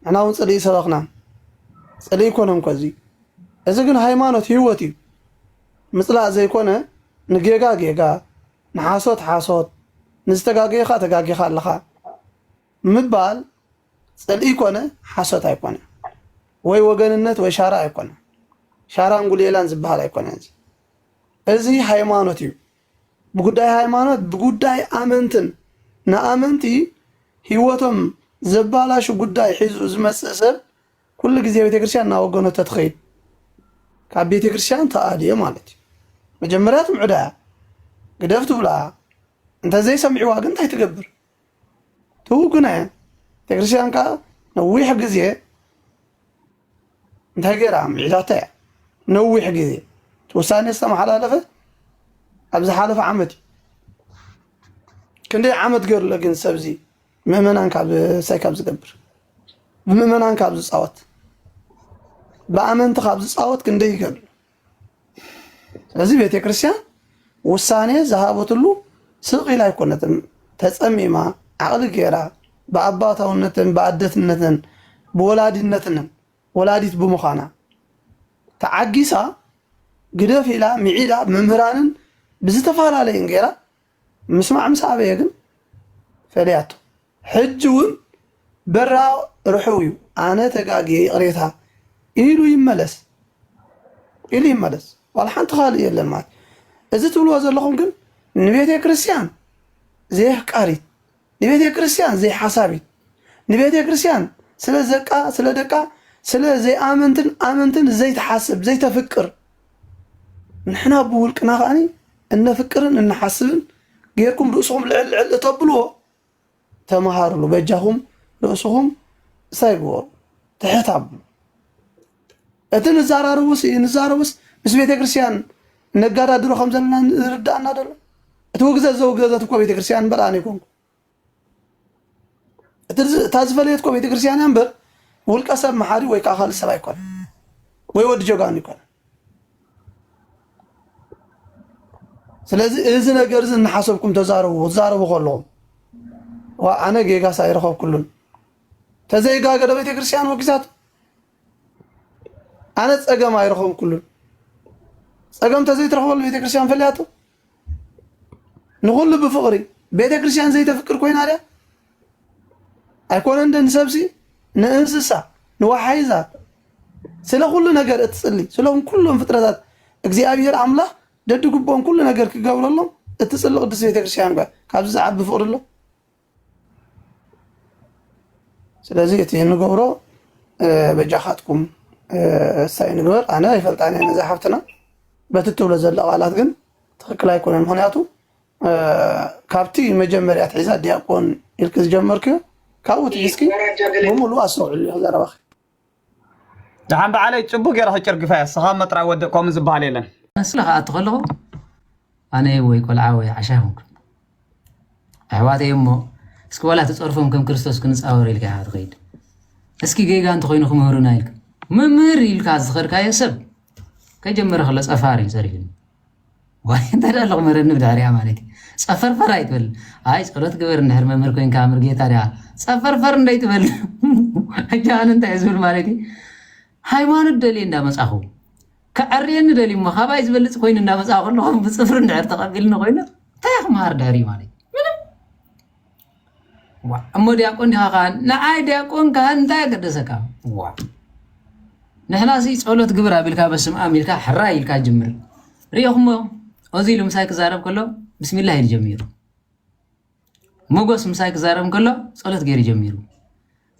[SPEAKER 3] ንሕና እውን ጽልኢ ሰበኽናን ጽልኢ ኣይኮነን እኮ እዚ እዚ ግን ሃይማኖት ህይወት እዩ ምጽላእ ዘይኮነ ንጌጋ ጌጋ ንሓሶት ሓሶት ንዝተጋገየኻ ተጋጊኻ ኣለኻ ምባል ጽልኢ ኮነ ሓሶት ኣይኮነ ወይ ወገንነት ወይ ሻራ ኣይኮነ ሻራን ጉሌላን ዝበሃል ኣይኮነ እዚ እዚ ሃይማኖት እዩ ብጉዳይ ሃይማኖት ብጉዳይ ኣመንትን ንኣመንቲ ህይወቶም ዘባላሹ ጉዳይ ሒዙ ዝመጽእ ሰብ ኩሉ ግዜ ቤተክርስትያን እናወገኖ ተትኸይድ ካብ ቤተክርስትያን ተኣልዮ ማለት እዩ መጀመርያ ትምዕዳ ግደፍ ትብላ እንተዘይሰሚዕዋ ግን እንታይ ትገብር ትውግኖ እያ ቤተክርስትያን ከዓ ነዊሕ ግዜ እንታይ ገይራ ምዒዳታ እያ ነዊሕ ግዜ ውሳኔ ዝተመሓላለፈ ኣብ ዝሓለፈ ዓመት እዩ ክንደይ ዓመት ገይሩሎ ግን ሰብዚ ምእመናን ካብ ሳይ ካብ ዝገብር ብምእመናን ካብ ዝፃወት ብኣመንቲ ካብ ዝፃወት ክንደይ ይገብር ስለዚ ቤተክርስትያን ውሳነ ዝሃበትሉ ስቕ ኢላ ኣይኮነትን ተፀሚማ ዓቕሊ ገይራ ብኣባታውነትን ብኣደትነትን ብወላዲነትንን ወላዲት ብምዃና ተዓጊሳ ግደፍ ኢላ ምዒዳ መምህራንን ብዝተፈላለየን ገይራ ምስማዕ ምስ ኣበየ ግን ፈለያቶ ሕጂ ውን በራ ርሑው ዩ ኣነ ተጋግየ ይቅሬታ ኢሉ ይመለስ ኢሉ ይመለስ ዋላ ሓንቲ ካልእ የለን ማለት ዩ እዚ ትብልዎ ዘለኹም ግን ንቤቴክርስትያን ዘይኣፍቃሪት ንቤቴክርስትያን ዘይሓሳቢት ንቤቴክርስትያን ስለ ዘቃ ስለ ደቃ ስለ ዘይኣመንትን ኣመንትን ዘይትሓስብ ዘይተፍቅር ንሕና ብውልቅና ከኣ እነፍቅርን እንሓስብን ጌርኩም ርእስኹም ልዕል ልዕል እተብልዎ ተመሃርሉ በጃኹም ርእስኹም ሳይ ግበሩ ትሕት ኣብሉ እቲ ንዛራርቡስ ንዛረቡስ ምስ ቤተ ክርስቲያን ነጋዳድሮ ከም ዘለና ዝርዳእና ደሎ እቲ ውግዘት ዘውገዘት እኮ ቤተ ክርስቲያን እምበር ኣነ ይኮንኩ እታ ዝፈለየት እኮ ቤተ ክርስቲያን እያ እምበር ውልቀ ሰብ መሓሪ ወይ ከዓ ካልእ ሰብ ኣይኮነ ወይ ወዲ ጀጋኑ ይኮነ ስለዚ እዚ ነገር እዚ እናሓሰብኩም ተዛረቡ ክትዛረቡ ከለኹም ዋ ኣነ ጌጋስ ኣይረኸብኩሉን ተዘይጋገ ዶ ቤተ ክርስቲያን ወጊዛት ኣነ ፀገም ኣይረኸብኩሉን ፀገም ተዘይትረኽበሉ ቤተ ክርስቲያን ፈልያቶ ንኹሉ ብፍቕሪ ቤተ ክርስቲያን ዘይተፍቅር ኮይና ድያ ኣይኮነን ንሰብሲ ንእንስሳ ንወሓይዛት ስለ ኩሉ ነገር እትጽሊ ስሎም ኩሎም ፍጥረታት እግዚኣብሔር ኣምላኽ ደድግቦም ኩሉ ነገር ክገብረሎም እትጽሊ ቅድስት ቤተ ክርስቲያን ጓ ካብዚ ዝዓቢ ፍቕሪ ኣሎ ስለዚ እቲ እንገብሮ በጃኻትኩም እሳይ ንግበር ኣነ ይፈልጣን እየ ነዛ ሓፍትና በቲ እትብሎ ዘሎ ቃላት ግን ትክክል ኣይኮነን ምክንያቱ ካብቲ መጀመርያ ትሒዛ ዲያቆን ኢልክ ዝጀመርክዮ ካብኡ ትሒዝኪ ብሙሉ ኣስተውዕሉ ዘረባኺ
[SPEAKER 2] ደሓን በዓለይ ፅቡቅ ገይረ ክጭርግፋ እያ ስኻ መጥራይ ወደ ከምኡ ዝበሃል የለን መስለ ክኣቱ ከለኹ
[SPEAKER 4] ኣነ ወይ ቆልዓ ወይ ዓሻ ይኹንኩ ኣሕዋተይ እሞ እስኪ ዋላ ተፀርፎም ከም ክርስቶስ ክንፃወር ኢልካ ኢኻ ትኸይድ እስኪ ጌጋ እንተኮይኑ ክምህሩና ኢልካ መምህር ኢልካ ዝኸድካዮ ሰብ ከጀመረ ከሎ ፀፋር እዩ ፀሪፍኒ ዋይ እንታይ ዳኣ ሎቕመ ረኒ ብድሕሪኣ ማለት እዩ ጸፈርፈር ኣይትበል ኣይ ጸሎት ግበር እንድሕር መምህር ኮንካ ምርጌታ ድኣ ጸፈርፈር እንደ ኣይትበል ሕጂ ኣነ እንታይ ዝብል ማለት እዩ ሃይማኖት ደልየ እንዳ መጻኹ ከዐርየኒ ደልዩ እሞ ካባይ ዝበልጽ ኮይኑ እንዳ መጻኹ ኣለኹ ብጽፍሪ እንድሕር ተቐቢልኒ ኮይኑ እንታይ ክመሃር ድሕሪ ማለት እዩ እሞ ዲያቆን ዲኻ ካህን? ንዓይ ዲያቆን ካህን እንታይ ኣገደሰካ? ዋ ንሕና ሲ ጸሎት ግብር ኣቢልካ በስም ኣም ኢልካ ሕራይ ኢልካ ጅምር ሪኦኹሞ እዚ ኢሉ ምሳይ ክዛረብ ከሎ ብስሚላ ኢሉ ጀሚሩ ሞጎስ ምሳይ ክዛረብ ከሎ ጸሎት ገይሩ ጀሚሩ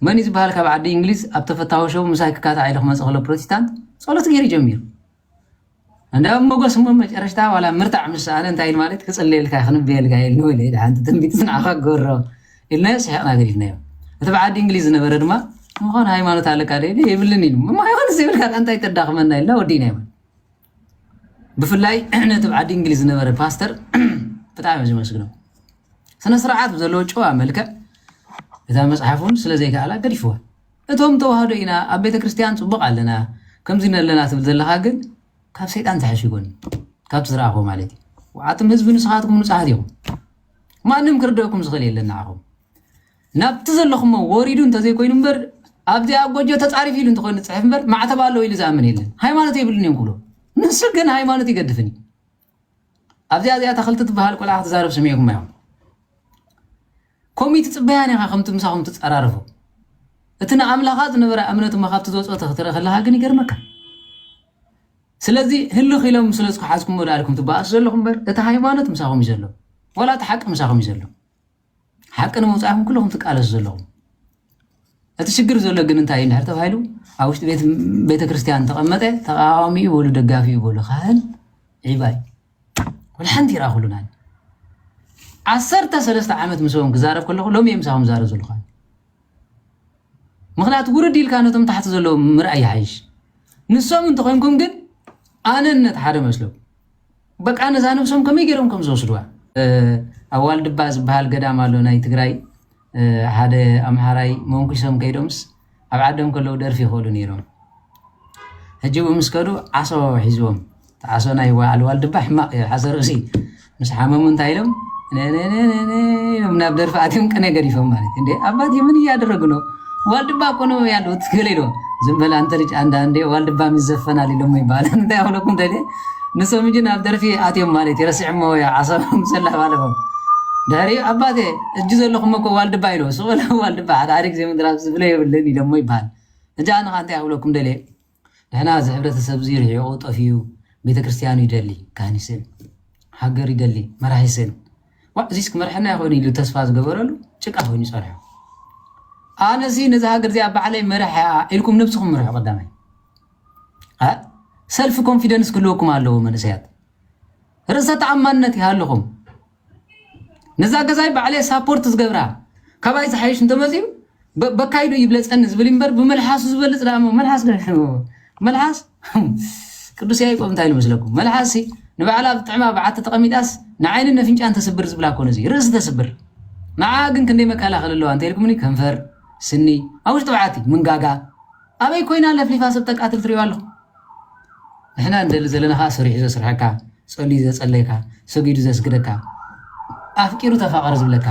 [SPEAKER 4] መን'ዩ ዝበሃል ካብ ዓዲ እንግሊዝ ኣብ ተፈታዊ ሸው ምሳይ ክካታዕ ኢሉ ክመጽእ ከሎ ፕሮቲስታንት ጸሎት ገይሩ ጀሚሩ እንዳ ሞጎስ እሞ መጨረሽታ ዋላ ምርታዕ ምስ ሰኣነ እንታይ ኢሉ ማለት ክጽልየልካ ክንብየልካ ኢሉ ንበለ ኢዳ ሓንቲ ትንቢት ንዓኻ ገሮ ኢልናዮ ስሒቕና ገዲፍናዮ እቲ ብዓዲ እንግሊዝ ዝነበረ ድማ ምዃኑ ሃይማኖት ኣለካ ደ የብልን ኢሉ እሞ ይኹንስ ይብልካ እንታይ ተዳኽመና ኢልና ወዲእናዮ ብፍላይ ነቲ ኣብ ዓዲ እንግሊዝ ዝነበረ ፓስተር ብጣዕሚ እየ ዝመስግኖ ስነ ስርዓት ዘለዎ ጨዋ መልክዕ እታ መፅሓፍ እውን ስለ ዘይከኣላ ገዲፍዋ እቶም ተዋህዶ ኢና ኣብ ቤተ ክርስትያን ፅቡቅ ኣለና ከምዚ ኣለና ትብል ዘለካ ግን ካብ ሰይጣን ዝሓሽ ይኮን ካብቲ ዝረኣኹ ማለት እዩ ዓትም ህዝቢ ንስኻትኩም ንፁሓት ኢኹም ማንም ክርደኩም ዝኽእል የለን ንዓኹም ናብቲ ዘለኹሞ ወሪዱ እንተዘይኮይኑ እምበር ኣብዚኣ ጎጆ ተጻሪፍ ኢሉ እንተኾይኑ ዝጽሕፍ እምበር ማዕተብ ኣለዎ ኢሉ ዝኣምን የለን ሃይማኖት የብሉን እዮም ክብሉ ንሱ ግን ሃይማኖት ይገድፍን እዩ ኣብዚኣ እዚኣ ተኽልቲ ትበሃል ቆልዓ ክትዛረብ ስሚዕኩም እዮም ኮሚቲ ጽበያን ኢኻ ከምቲ ምሳኹም ትጸራረፉ እቲ ንኣምላኻ ዝነበረ እምነት እሞ ካብቲ ዝወፅኦ ክትርኢ ከለካ ግን ይገርመካ ስለዚ ህልኽ ኢሎም ስለ ዝሓዝኩሞ ዳልኩም ትበኣሱ ዘለኹም እምበር እቲ ሃይማኖት ምሳኹም እዩ ዘሎ ወላ እቲ ሓቂ ምሳኹም እዩ ዘሎ ሓቂ ንምውፃእኹም ኩልኹም ትቃለሱ ዘለኹም እቲ ሽግር ዘሎ ግን እንታይ እዩ እንድሕር ተባሂሉ ኣብ ውሽጢ ቤተ ክርስቲያን ተቐመጠ ተቃዋሚ እዩ በሉ ደጋፊ እዩ በሉ ካህን ዒባይ ኩል ሓንቲ ይረኣኹሉናን ዓሰርተ ሰለስተ ዓመት ምስኦም ክዛረብ ከለኹ ሎሚ እየ ምሳኹም ዛረብ ዘለኹ ምክንያቱ ውርድ ኢልካ ነቶም ታሕቲ ዘለዉ ምርኣይ ይሓይሽ ንሶም እንተኮይንኩም ግን ኣነነት ሓደ መስለኩም በቃ ነዛ ነብሶም ከመይ ገይሮም ከም ዝወስድዋ ኣብ ዋልድባ ዝበሃል ገዳም ኣሎ ናይ ትግራይ ሓደ ኣምሃራይ መንኩሶም ከይዶምስ ኣብ ዓዶም ከለዉ ደርፊ ይኽእሉ ነይሮም ሕጂ እውን ምስ ከዱ ዓሶ ሒዝዎም ዓሶ ናይ በዓል ዋልድባ ሕማቕ እዩ ሓሰር ርእሲ ምስ ሓመሙ እንታይ ኢሎም ኢሎም ናብ ደርፊ ኣትዮም ቅነ ገዲፎም ማለት እንደ ኣባት ምን እያደረጉ ነው ዋልድባ እኮ ነው ያሉት ገሌ ኢሎም ዝም በል አንተ ልጅ አንዳንዴ ዋልድባ ይዘፈናል ኢሎም ይባላል እንታይ ያሁለኩም ደሌ ንሶም ሕጂ ናብ ደርፊ ኣትዮም ማለት እዩ ረሲዕሞ ወይ ዓሰቦም ሰላም ኣለፎም ድሕሪኡ ኣባቴ እጅ ዘለኹሞ እኮ ዋልድባ ኢሎ ሱቕ ኢሎም ዋልድባ ሓደ ሓደ ግዜ ምድራፍ ዝብለ የብልን ኢሎሞ ይበሃል ሕጂ ኣነ ከ እንታይ ክብለኩም ደልየ ንሕና እዚ ሕብረተሰብ እዚ ርሒቑ ጠፊኡ ቤተ ክርስቲያኑ ይደሊ ካህን ይስእን ሃገር ይደሊ መራሒ ይስእን ዋዕ እዚስ ክመርሐና ይኾን ኢሉ ተስፋ ዝገበረሉ ጭቃ ኮይኑ ይጸንሖ ኣነሲ ነዚ ሃገር እዚኣ ባዕለይ መርሕያ ኢልኩም ነብስኹም ምርሑ ቀዳማይ ሰልፍ ኮንፊደንስ ክህልወኩም ኣለዎ መንእሰያት ርእሰ ተኣማንነት ይሃልኹም ነዛ ገዛይ ባዕለየ ሳፖርት ዝገብራ ካባይ ዝሓይሽ እንተመፅኡ በካይዶ ይብለፀኒ ዝብል እምበር ብመልሓሱ ዝበልፅ ዳ መልሓስ መልሓስ ቅዱስ ያዕቆብ እንታይ ኢሉ መስለኩም መልሓስ ንባዕላ ኣብ ጥዕማ በዓቲ ተቐሚጣስ ንዓይኒ ነፍንጫን ተስብር ዝብላ ኮነ እዚ ርእሲ ተስብር ንዓ ግን ክንደይ መከላኸል ኣለዋ እንተይልኩምኒ ከንፈር ስኒ ኣብ ውሽጢ በዓቲ ምንጋጋ ኣበይ ኮይና ለፍሊፋ ሰብ ተቃትል ትሪኦ ኣለኹ ንሕና ንደሊ ዘለና ከኣ ሰሪሑ ዘስርሐካ ጸልዩ ዘጸለየካ ሰጊዱ ዘስግደካ ኣፍቂሩ ተፋቀር ዝብለካ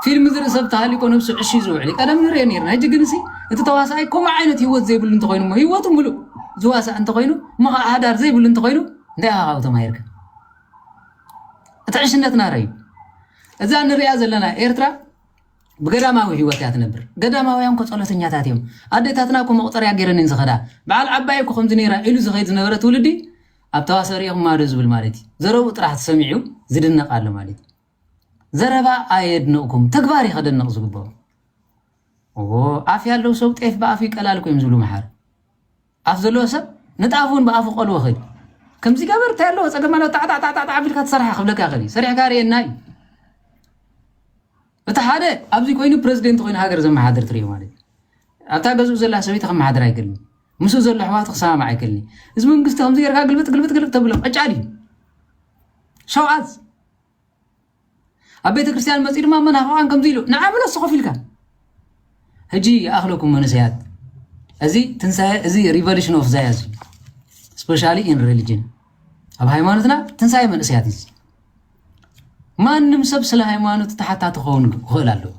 [SPEAKER 4] ፊልም ዝርኢ ሰብ ተሃሊቆ ነብሱ ዕሽ ዝውዕል ቀደም ንሪኦ ነርና ሕጂ ግን ሲ እቲ ተዋሳኣይ ከምኡ ዓይነት ሂወት ዘይብሉ እንተኮይኑ እሞ ሂወቱ ምሉእ ዝዋሳእ እንተኮይኑ እሞ ከዓ ሃዳር ዘይብሉ እንተኮይኑ እንታይ ኢኻ ካብኡ ተማሂርካ እቲ ዕሽነትና ረዩ እዛ ንሪኣ ዘለና ኤርትራ ብገዳማዊ ህይወት እያ ትነብር። ገዳማውያን እኮ ጸሎተኛታት እዮም። ኣዴታትና እኮ መቑጸርያ ገይረን እየን ዝኸዳ። በዓል ዓባየይ እኮ ከምዚ ነይራ ኢሉ ዝኸይድ ዝነበረ ትውልዲ ኣብ ተዋስኦ ርኢኹማዶ ዝብል ማለት እዩ። ዘረብኡ ጥራሕ ተሰሚዑ ዝድነቕ ኣሎ ማለት እዩ። ዘረባ ኣየድንቕኩም ተግባር እዩ ከደንቕ ዝግብኦ። ኦ ኣፍ ያለው ሰው ጤፍ በኣፉ ይቀላል እኮ እዮም ዝብሉ መሓር። ኣፍ ዘለዎ ሰብ ነቲ ኣፍ እውን ብኣፉ ቆልዎ ከይዱ ከምዚ ገበር እንታይ ኣለዎ ፀገም ኣለዎ ጣዕጣዕጣዕጣዕ ኣቢልካ ትሰርሓ ክብለካ ይኽእል እዩ ሰሪሕካ ርኤና እዩ እቲ ሓደ ኣብዚ ኮይኑ ፕረዚደንት ኮይኑ ሃገር ዘመሓድር ትሪኦ ማለት እዩ ኣብታ ገዝኡ ዘላ ሰበይቲ ከመሓድር ኣይክእልን ምስኡ ዘሎ ኣሕዋቱ ክሰማማዕ ኣይክእልን እዩ እዚ መንግስቲ ከምዚ ጌርካ ግልብጥ ግልብጥ ግልብጥ ተብሎ ቀጫል እዩ ሸውዓዝ ኣብ ቤተ ክርስቲያን መፅኡ ድማ መናፍቃን ከምዚ ኢሉ ንዓ ብሎ ስኮፍ ኢልካ ሕጂ ይኣኽለኩም መንእሰያት እዚ ትንሳኤ እዚ ሪቨሉሽን ኦፍ ዛያዝ እዩ ስፔሻሊ ኢን ሪሊጅን ኣብ ሃይማኖትና ትንሳኤ መንእሰያት እዩ ማንም ሰብ ስለ ሃይማኖት ተሓታቲ ክኸውን ክኽእል ኣለዎ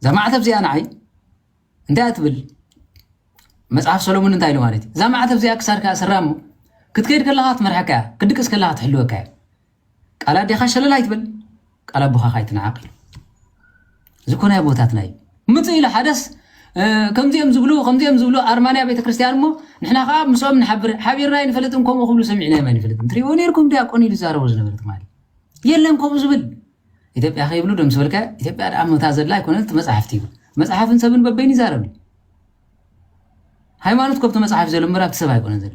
[SPEAKER 4] እዛ ማዕተብ እዚኣ ንዓይ እንታይ እያ ትብል መፅሓፍ ሰሎሞን እንታይ ኢሉ ማለት እዩ እዛ ማዕተብ እዚኣ ክሳድካ ስራሞ ክትከይድ ከለካ ትመርሐካ እያ ክድቅስ ከለካ ትሕልወካ እያ ቃል ኣዴኻ ሸለል ኣይትበል ቃል ኣቦኻ ካይ ትንዓቕ ኢሉ ዝኮነ ኣቦታትና እዩ ምጽእ ኢሉ ሓደስ ከምዚኦም ዝብሉ ከምዚኦም ዝብሉ ኣርማንያ ቤተክርስትያን እሞ ንሕና ከዓ ምስኦም ንሓብር ሓቢርና ይንፈልጥን ከምኡ ክብሉ ሰሚዕናዮም ኣይንፈልጥን ትሪእዎ ነርኩም ዲያቆን ኢሉ ዛረቡ ዝነበረ ትማሊ የለን ከምኡ ዝብል ኢትዮጵያ ከይብሉ ደም ስበልካ ኢትዮጵያ ደኣ መታ ዘላ ኣይኮነት መፅሓፍቲ እዩ መፅሓፍን ሰብን በበይን ይዛረብ ሃይማኖት ኮብቲ መፅሓፍ ዘሎ ምበር ኣብቲ ሰብ ኣይኮነን ዘሎ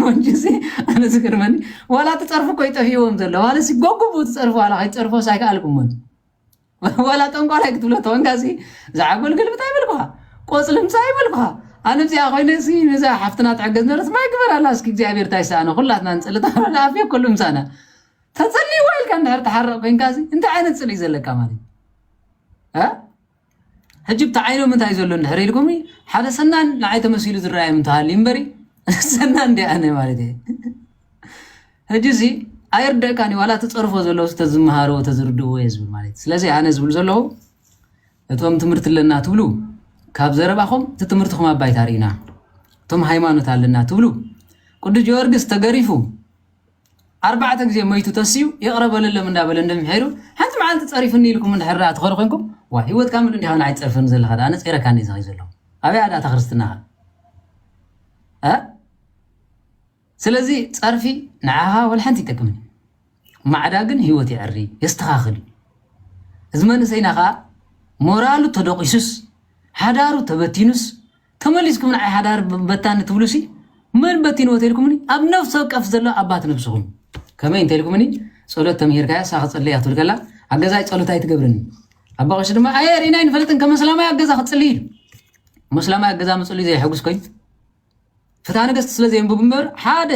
[SPEAKER 4] ሞንጁሲ ኣነ ዝገርመኒ ዋላ እቲ ፀርፊ እኮ ይጠፍዎም ዘሎ ማለት ጎጉቡ እቲ ፀርፊ ዋላ ከይትፀርፎስ ኣይከኣልኩሞን ዋላ ጠንቋላይ ክትብሎ ተወንካ ሲ ዝዓጎል ግልብታ ይበልኩኻ ቆፅሊ ምፃ ይበልኩኻ ኣነ እዚኣ ኮይነ ሲ ነዛ ሓፍትና ትሕገዝ ነበረት ማይ ግበር ኣላ እስኪ እግዚኣብሔር እንታይ ሰኣነ ኩላትና ንፅሊ ተረዳ ኣፍዮ ኩሉ ምሳና ተፀልይዋ ኢልካ እንድሕር ትሓርቕ ኮይንካ ሲ እንታይ ዓይነት ፅልኢ ዘለካ ማለት እዩ ሕጂ ብቲ ዓይኖም እንታይ ዘሎ እንድሕር ኢልኩምኒ ሓደ ሰናን ንዓይ ተመሲሉ ዝረኣዮም እንተሃልዩ እምበሪ ሰናን እንድየ ኣነ ማለት እየ ሕጂሲ ኣይርደእካን ዋላ እቲ ፀርፎ ዘለውስ ተዝመሃርዎ ተዝርድእዎ እየ ዝብል ማለት ስለዚ ኣነ ዝብል ዘለኹ እቶም ትምህርቲ ኣለና ትብሉ ካብ ዘረባኹም እቲ ትምህርትኹም ኣባይታ ርኢና እቶም ሃይማኖት ኣለና ትብሉ ቅዱስ ጊዮርጊስ ተገሪፉ ኣርባዕተ ግዜ መይቱ ተስዩ ይቕረ በለሎም እንዳበለ እንደምሒሩ ሓንቲ መዓልቲ ጸሪፍኒ ኢልኩም እንድሕር ደኣ ትኸዱ ኮንኩም ዋይ ህይወት ካምል እንዲኻ ንዓይ ትጸርፈኒ ዘለኻ ደኣ ነጺረካኒ እዚ ከይ ዘለኹ ኣበያ ደኣ ተክርስትናኻ እ ስለዚ ጸርፊ ንዓኻ ወልሓንቲ ይጠቅምን ማዕዳ ግን ህይወት ይዕሪ የስተኻኽል እዩ እዚ መንእሰይና ከዓ ሞራሉ ተደቂሱስ ሓዳሩ ተበቲኑስ ተመሊስኩም ንዓይ ሓዳር በታኒ ትብሉሲ መን በቲንዎ ተልኩምኒ ኣብ ነፍሲ ወቀፍ ዘሎ ኣባት ነብስኹም ከመይ እንተልኩምኒ ጸሎት ተምሂርካያ ሳኽ ጸለያ ትብል ከላ ኣብ ገዛይ ጸሎት ኣይትገብርን ኣባ ቀሺ ድማ ኣየ ርኢና ኣይንፈልጥን ከም መስላማይ ኣብ ገዛ ክጽሊ ኢሉ መስላማይ ኣብ ገዛ ምጽሊ ዘይሕጉስ ኮይኑ ፍትሃ ነገስቲ ስለ ዘየንብብ እምበር ሓደ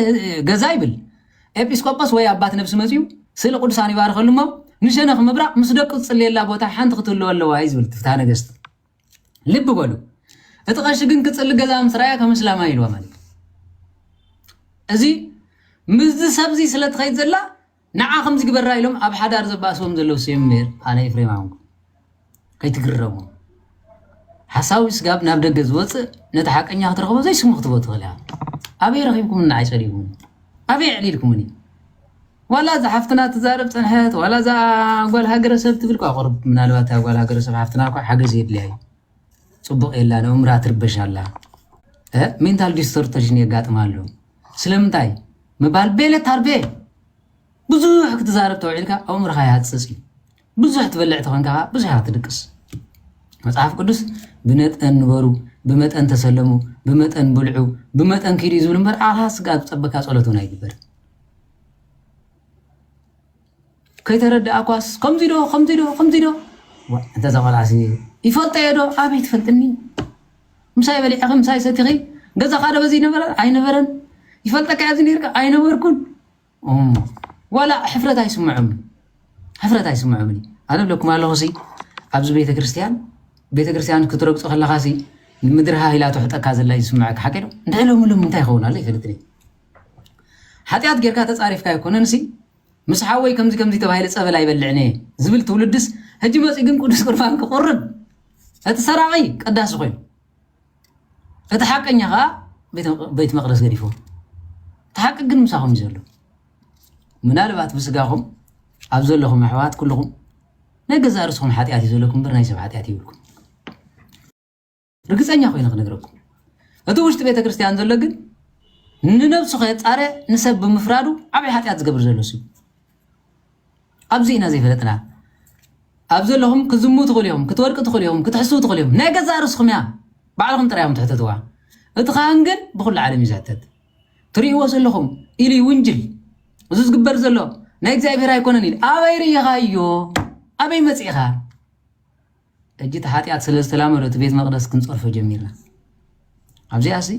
[SPEAKER 4] ገዛ ይብል ኤጲስቆጶስ ወይ ኣባት ነብሲ መፅኡ ስእሊ ቅዱሳን ይባርኸሉ እሞ ንሸነኽ ምብራቕ ምስ ደቁ ዝፅልየላ ቦታ ሓንቲ ክትህልዎ ኣለዋ እዩ ዝብል ፍትሃ ነገስቲ ልቢ በሉ እቲ ቀሺ ግን ክጽሊ ገዛ ምስ ራያ ከም እስላማይ ኢልዋ ማለት እዚ ምስዚ ሰብዚ ስለ ትኸይድ ዘላ ንዓ ከምዚ ግበራ ኢሎም ኣብ ሓዳር ዘባእስዎም ዘለዉ ሰብ እምበር ኣነ ኤፍሬም ኣንኩ ከይትግረሙ ሓሳዊ ስጋብ ናብ ደገ ዝወፅእ ነቲ ሓቀኛ ክትረኽቦ ዘይስሙ ክትቦ ትኽእል ኢኻ ኣበይ ረኺብኩም ንዓይ ፀሊእኩም ኣበይ ዕሊልኩምኒ ዋላ እዛ ሓፍትና ትዛረብ ፀንሐት ዋላ እዛ ጓል ሃገረሰብ ትብል ኳ ቁርብ ምናልባት እታ ጓል ሃገረሰብ ሓፍትና እኳ ሓገዝ የድልያ እዩ ፅቡቅ የላ ንእምራ ትርበሽ ኣላ ሜንታል ዲስተርተሽን የጋጥማ ኣሎ ስለምንታይ ምባል ቤለ ታርቤ ብዙሕ ክትዛረብ ተውዒልካ ኣእምሮኻ ይሃፅፅ እዩ ብዙሕ ትበልዕ ተኾንካ ከኣ ብዙሕ ኢኻ ትድቅስ። መጽሓፍ ቅዱስ ብነጠን ንበሩ፣ ብመጠን ተሰለሙ፣ ብመጠን ብልዑ፣ ብመጠን ኪዱ እዩ ዝብል እምበር ዓኻ ስጋ ዝጸበካ ጸሎት እውን ኣይግበርን። ከይተረድኣኳስ ከምዚ ዶ ከምዚ ዶ ከምዚ ዶ እንተ ዘቆልዓሲ ይፈልጦ እየ ዶ ኣበይ ትፈልጥኒ ምሳይ በሊዕኺ ምሳይ ሰቲኺ ገዛኻ ዶ በዚ ነበረ ኣይነበረን ይፈልጠካ እየ ዝነርካ ኣይነበርኩን ዋላ ሕፍረት ኣይስምዖምን ሕፍረት ኣይስምዖምን እዩ ኣነ ብለኩም ኣለኹ ሲ ኣብዚ ቤተ ክርስቲያን ቤተ ክርስቲያን ክትረግፆ ከለኻ ሲ ምድሪ ሃይላ ትሕጠካ ዘላ እዩ ዝስምዐካ ሓቂ ዶ እንታይ ሎሚ ሎሚ እንታይ ይኸውን ኣሎ ይፈልጥኒ ሓጢኣት ጌርካ ተፃሪፍካ ኣይኮነን ሲ ምስ ሓወይ ከምዚ ከምዚ ተባሂለ ፀበል ኣይበልዕን እየ ዝብል ትውልድስ ሕጂ መፂኡ ግን ቅዱስ ቁርባን ክቁርብ እቲ ሰራቂ ቀዳሲ ኮይኑ እቲ ሓቀኛ ከኣ ቤት መቅደስ ገዲፍዎ እቲ ሓቂ ግን ምሳኹም እዩ ዘሎ ምናልባት ብስጋኹም ኣብ ዘለኹም ኣሕዋት ኩልኹም ናይ ገዛእ ርእስኹም ሓጢኣት እዩ ዘለኩም እምበር ናይ ሰብ ሓጢኣት ይብልኩም ርግፀኛ ኮይነ ክነግረኩም እቲ ውሽጢ ቤተ ክርስቲያን ዘሎ ግን ንነብሱ ከየፃረ ንሰብ ብምፍራዱ ዓብይ ሓጢኣት ዝገብር ዘሎ ሱ ኣብዚ ኢና ዘይፈለጥና ኣብዚ ኣለኹም ክዝሙ ትኽእሉ ኢኹም ክትወድቁ ትኽእሉ ኢኹም ክትሕስዉ ትኽእሉ ኢኹም ናይ ገዛእ ርእስኹም እያ ባዕልኹም ጥራይ እዮም ትሕተትዋ እቲ ካህን ግን ብኹሉ ዓለም እዩ ዝሕተት ትርእይዎ ዘለኹም ኢሉ ይውንጅል እዚ ዝግበር ዘሎ ናይ እግዚኣብሔር ኣይኮነን ኢሉ ኣበይ ርኢኻዮ ኣበይ መፂእኻ ሕጂ እቲ ሓጢኣት ስለ ዝተላመዶ እቲ ቤት መቅደስ ክንጸርፎ ጀሚርና ኣብዚኣሲ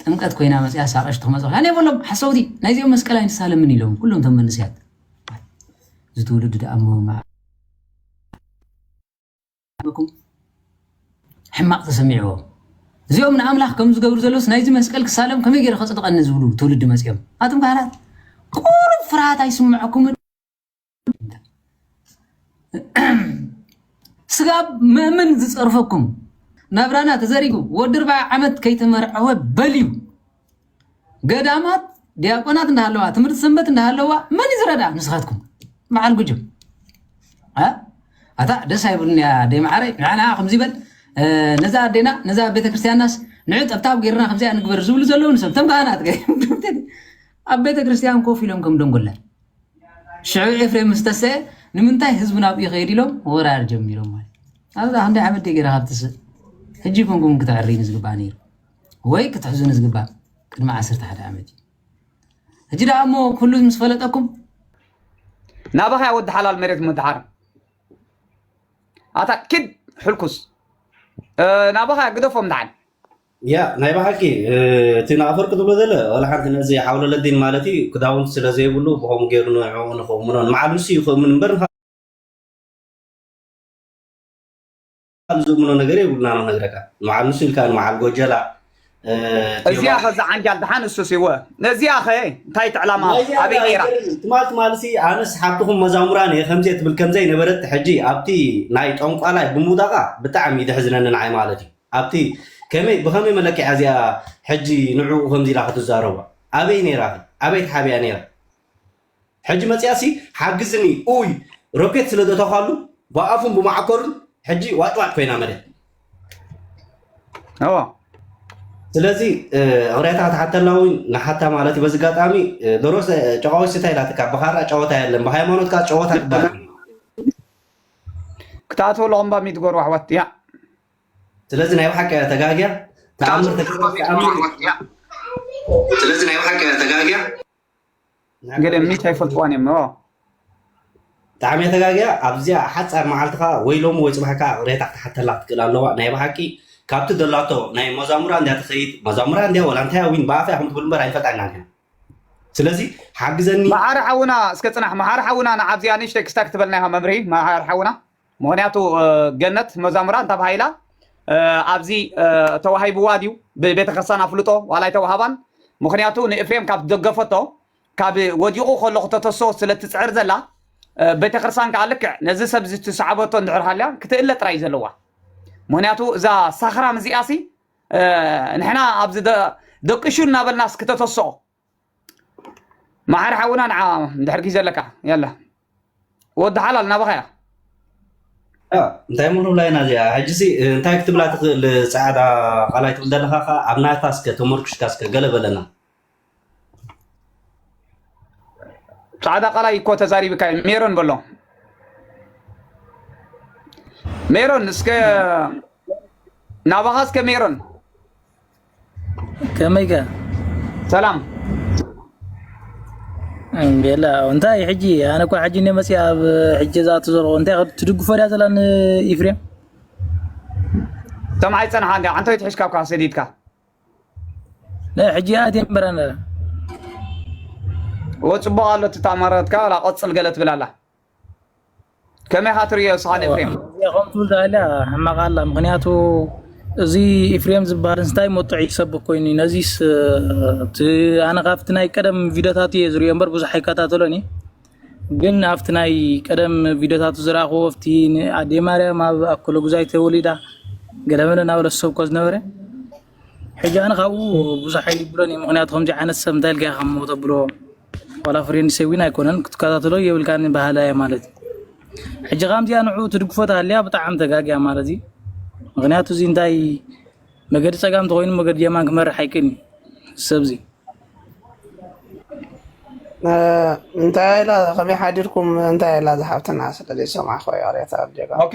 [SPEAKER 4] ጥምቀት ኮይና መጽያስ ኣቐሽቲ ክመጽ ኣነ የበሎም ሓሰውቲ ናይዚኦም መስቀል ኣይንሳለምን ኢሎም ኩሎም እቶም መንስያት እዚ ትውልዲ ደኣ እሞ ኩም ሕማቕ ተሰሚዕዎ እዚኦም ንኣምላኽ ከም ዝገብሩ ዘሎስ ናይዚ መስቀል ክሳለም ከመይ ገይረ ከፅድቐኒ ዝብሉ ትውልዲ መፅኦም ኣቶም ካህናት ቁሩብ ፍርሃት ኣይስምዐኩምን ስጋብ መእምን ዝፀርፈኩም ናብራና ተዘሪጉ ወዲ ርብዓ ዓመት ከይተመርዐወ በልዩ ገዳማት ዲያቆናት እንዳሃለዋ ትምህርቲ ሰንበት እንዳሃለዋ መን እዩ ዝረዳ ንስኻትኩም በዓል ጉጅም ኣታ ደስ ኣይብሉን እያ ደይ መዓረይ ንዓና ከምዚ በል ነዛ ኣዴና ነዛ ቤተክርስትያንናስ ንዑ ጠብታብ ገይርና ከምዚኣ ንግበር ዝብሉ ዘለዉ ንሰብ ተም ካህናት ኣብ ቤተክርስትያን ኮፍ ኢሎም ከም ደንጎላ ሽዑ ኤፍሬም ምስ ተስዐ ንምንታይ ህዝቢ ናብኡ ይኸይድ ኢሎም ወራር ጀሚሮም ማለት ኣብዛ ክንደይ ዓመት ገይረ ካብ ትስእ ሕጂ ኮንኩም ክትዕርዩኒ ዝግባእ ነይሩ ወይ ክትሕዙኒ ዝግባእ ቅድሚ ዓሰርተ ሓደ ዓመት እዩ ሕጂ ደኣ እሞ ኩሉ ምስ ፈለጠኩም
[SPEAKER 2] ናባኻ ወዲ ሓላል መሬት ምድሓር ኣታ ኪድ ሕልኩስ ናባኻ ግደፎም ደሓን ያእ ናይ
[SPEAKER 6] በሓቂ እቲ ንኣፈወርቂ ዝብሎ ዘሎ ዋላ ሓንቲ ነዚ ሓውለለዲን ማለት እዩ ክዳውንቲ ስለ ዘይብሉ ብከምኡ ገይሩ ንዕኡ ንክእምኖ ንበዓል ንሱ እዩ ክእምን እምበር ንካልእ ዝእምኖ ነገር የብሉና ነው ነግረካ ንበዓል ንሱ ኢልካ ንበዓል ጎጀላ
[SPEAKER 2] እዚኣ ኸ እዛ ዓንጃል ድሓን እሱስ ይወ እዚኣ ኸ እንታይ እቲ ዕላማ ናይዚ ኣበይ ኣነ ነይራ ኣይገርም ትማል ትማል ሲ
[SPEAKER 6] ኣነስ ሓብትኹም መዛሙራን እየ ከምዚየ ትብል ከምዘይነበረት ሕጂ ኣብቲ ናይ ጠንቋላይ ብምውዳቓ ብጣዕሚ እዩ ዘሕዝነኒ ንዓይ ማለት እዩ ኣብቲ ከመይ ብከመይ መለክዒያ እዚኣ ሕጂ ንዕኡ ከምዚ ኢላ ክትዛረቦ ኣበይ ነይራኺ ኣበይ ተሓቢኣ ነይራ ሕጂ መጺኣሲ ሓግዝኒ ኡይ ሮኬት ስለ ዘተኳሉ ብኣፉን ብማዓኮሩን ሕጂ ዋጭዋጭ ኮይና መሬት ኣዎ ስለዚ እቕሬታ ክትሓተላ እውን ንሓታ ማለት እዩ በዚ ኣጋጣሚ ዶሮ ጨቃዎች ስታይ ኢላትካ ብካራ ጨወታ የለን ብሃይማኖት ከዓ ጨወታ ክበሃል
[SPEAKER 2] ክትኣትወለኹም ባሚት ጎርባሕባት እያ ስለዚ
[SPEAKER 6] ናይ ብሓቂ እያ ተጋግያ ተኣምር ተኣምር ስለዚ ናይ ብሓቂ እያ ተጋግያ
[SPEAKER 2] ገለ ምኒት ኣይፈልጥዋን እዮም ኖ ብጣዕሚ
[SPEAKER 6] እያ ተጋግያ ኣብዚኣ ሓፃር መዓልቲ ከዓ ወይ ሎሚ ወይ ፅባሕ ከዓ ቅሬታ ክትሓተላ ክትክእል ኣለዋ ናይ ብሓቂ ካብቲ ዘላቶ ናይ መዛሙራ እንድያ ትኸይድ መዛሙራ እንድያ ወላ እንታይ ዊን ብኣፈ ይኹም ትብል እምበር ኣይንፈልጣን ኢና ንሕና ስለዚ ሓግዘኒ መሓር ሓውና
[SPEAKER 2] እስከ ፅናሕ መሓር ሓውና ንዓብዚኣ ንእሽተይ ክስታ ክትበልና ኢኻ መብርሂ መሓር ሓውና ምክንያቱ ገነት መዛሙራ እንታብ ሃይላ ኣብዚ ተዋሂብዋ ድዩ ብቤተክርስቲያን ኣፍልጦ ዋላ ኣይተዋሃባን ምክንያቱ ንእፍሬም ካብ ደገፈቶ ካብ ወዲቑ ከሎ ክተተሶ ስለትፅዕር ዘላ ቤተክርስቲያን ከዓ ልክዕ ነዚ ሰብ እዚ ትሰዓበቶ እንድሕር ሃልያ ክትእለ ጥራይ ዘለዋ ምክንያቱ እዛ ሳኽራም እዚኣ ሲ ንሕና ኣብዚ ደቅሹ እናበልናስ ክተተስኦ መዓር ሓውና ንዓ ድሕር ግዜ ኣለካ የላ ወዲ ሓላል ናባኻ እያ
[SPEAKER 6] እንታይ ምኑ ብላይና እዚኣ ሕጂዚ እንታይ ክትብላ ትኽእል ፀዓዳ ቃላይ ትብል ዘለካ ከዓ ኣብ ናታ እስከ ተመርኩሽካ እስከ ገለ በለና
[SPEAKER 2] ፃዕዳ ቃላይ እኮ ተዛሪብካ ሜሮን በሎ ሜሮን እስከ ናባኻ እስከ ሜሮን
[SPEAKER 7] ከመይ ከ
[SPEAKER 2] ሰላም
[SPEAKER 7] እንዴላ እንታይ ሕጂ ኣነ እኮ ሕጂ እኔ መፅኣ ኣብ ሕጂ እዛ ትዘርኦ እንታይ ትድግፎ ድያ ዘላ ንኢፍሬም
[SPEAKER 2] እቶም ኣይፀንሓ እንዲ ዓንተይ ትሕሽካ እኳ ሰዲድካ
[SPEAKER 7] ናይ ሕጂ ኣትየ እምበራ ነረ
[SPEAKER 2] ወ ፅቡቅ ኣሎ እቲ ተኣማራትካ ላ ቆፅል ገለ ትብል ኣላ ከመይ ኢኻ ትርእዮ ስኻን ኤፍሬም? እዚኣ ከም ትብል ዳሃልያ
[SPEAKER 7] ሕማቕ ኣላ ምክንያቱ እዚ ኤፍሬም ዝበሃል እንታይ መጡዕ ይሰብክ ኮይኑ እዩ ነዚስ እቲ ኣነ ካብቲ ናይ ቀደም ቪድዮታት እየ ዝሪኦ እምበር ብዙሕ ኣይከታተሎን እየ ግን ኣብቲ ናይ ቀደም ቪድዮታቱ ዝረኣኹዎ ኣብቲ ኣዴ ማርያም ኣብ ኣኮለጉዛይ ተወሊዳ ገለመለ እናበለ ዝሰብኮ ዝነበረ ሕጂ ኣነ ካብኡ ብዙሕ ኣይብሎን እዩ ምክንያቱ ከምዚ ዓይነት ሰብ እንታይ ኢልካ ከም ተብሎ ዋላ ፍሬንድ ሰዊን ኣይኮነን ክትከታተሎ የብልካን ባህላ እየ ማለት እዩ ሕጂ ከምዚኣ ንዑ ትድግፎ ተሃልያ ብጣዕሚ ተጋግያ ማለት እዩ ምክንያቱ እዚ እንታይ መገዲ ፀጋም ተኮይኑ መገዲ የማን ክመርሕ ኣይክእልን እዩ ሰብዚ እንታይ ኢላ ከመይ ሓዲርኩም እንታይ ኢላ
[SPEAKER 3] ዝሓብትና ስለዘይሰማዕኮ ይቕሬታ
[SPEAKER 2] ኦኬ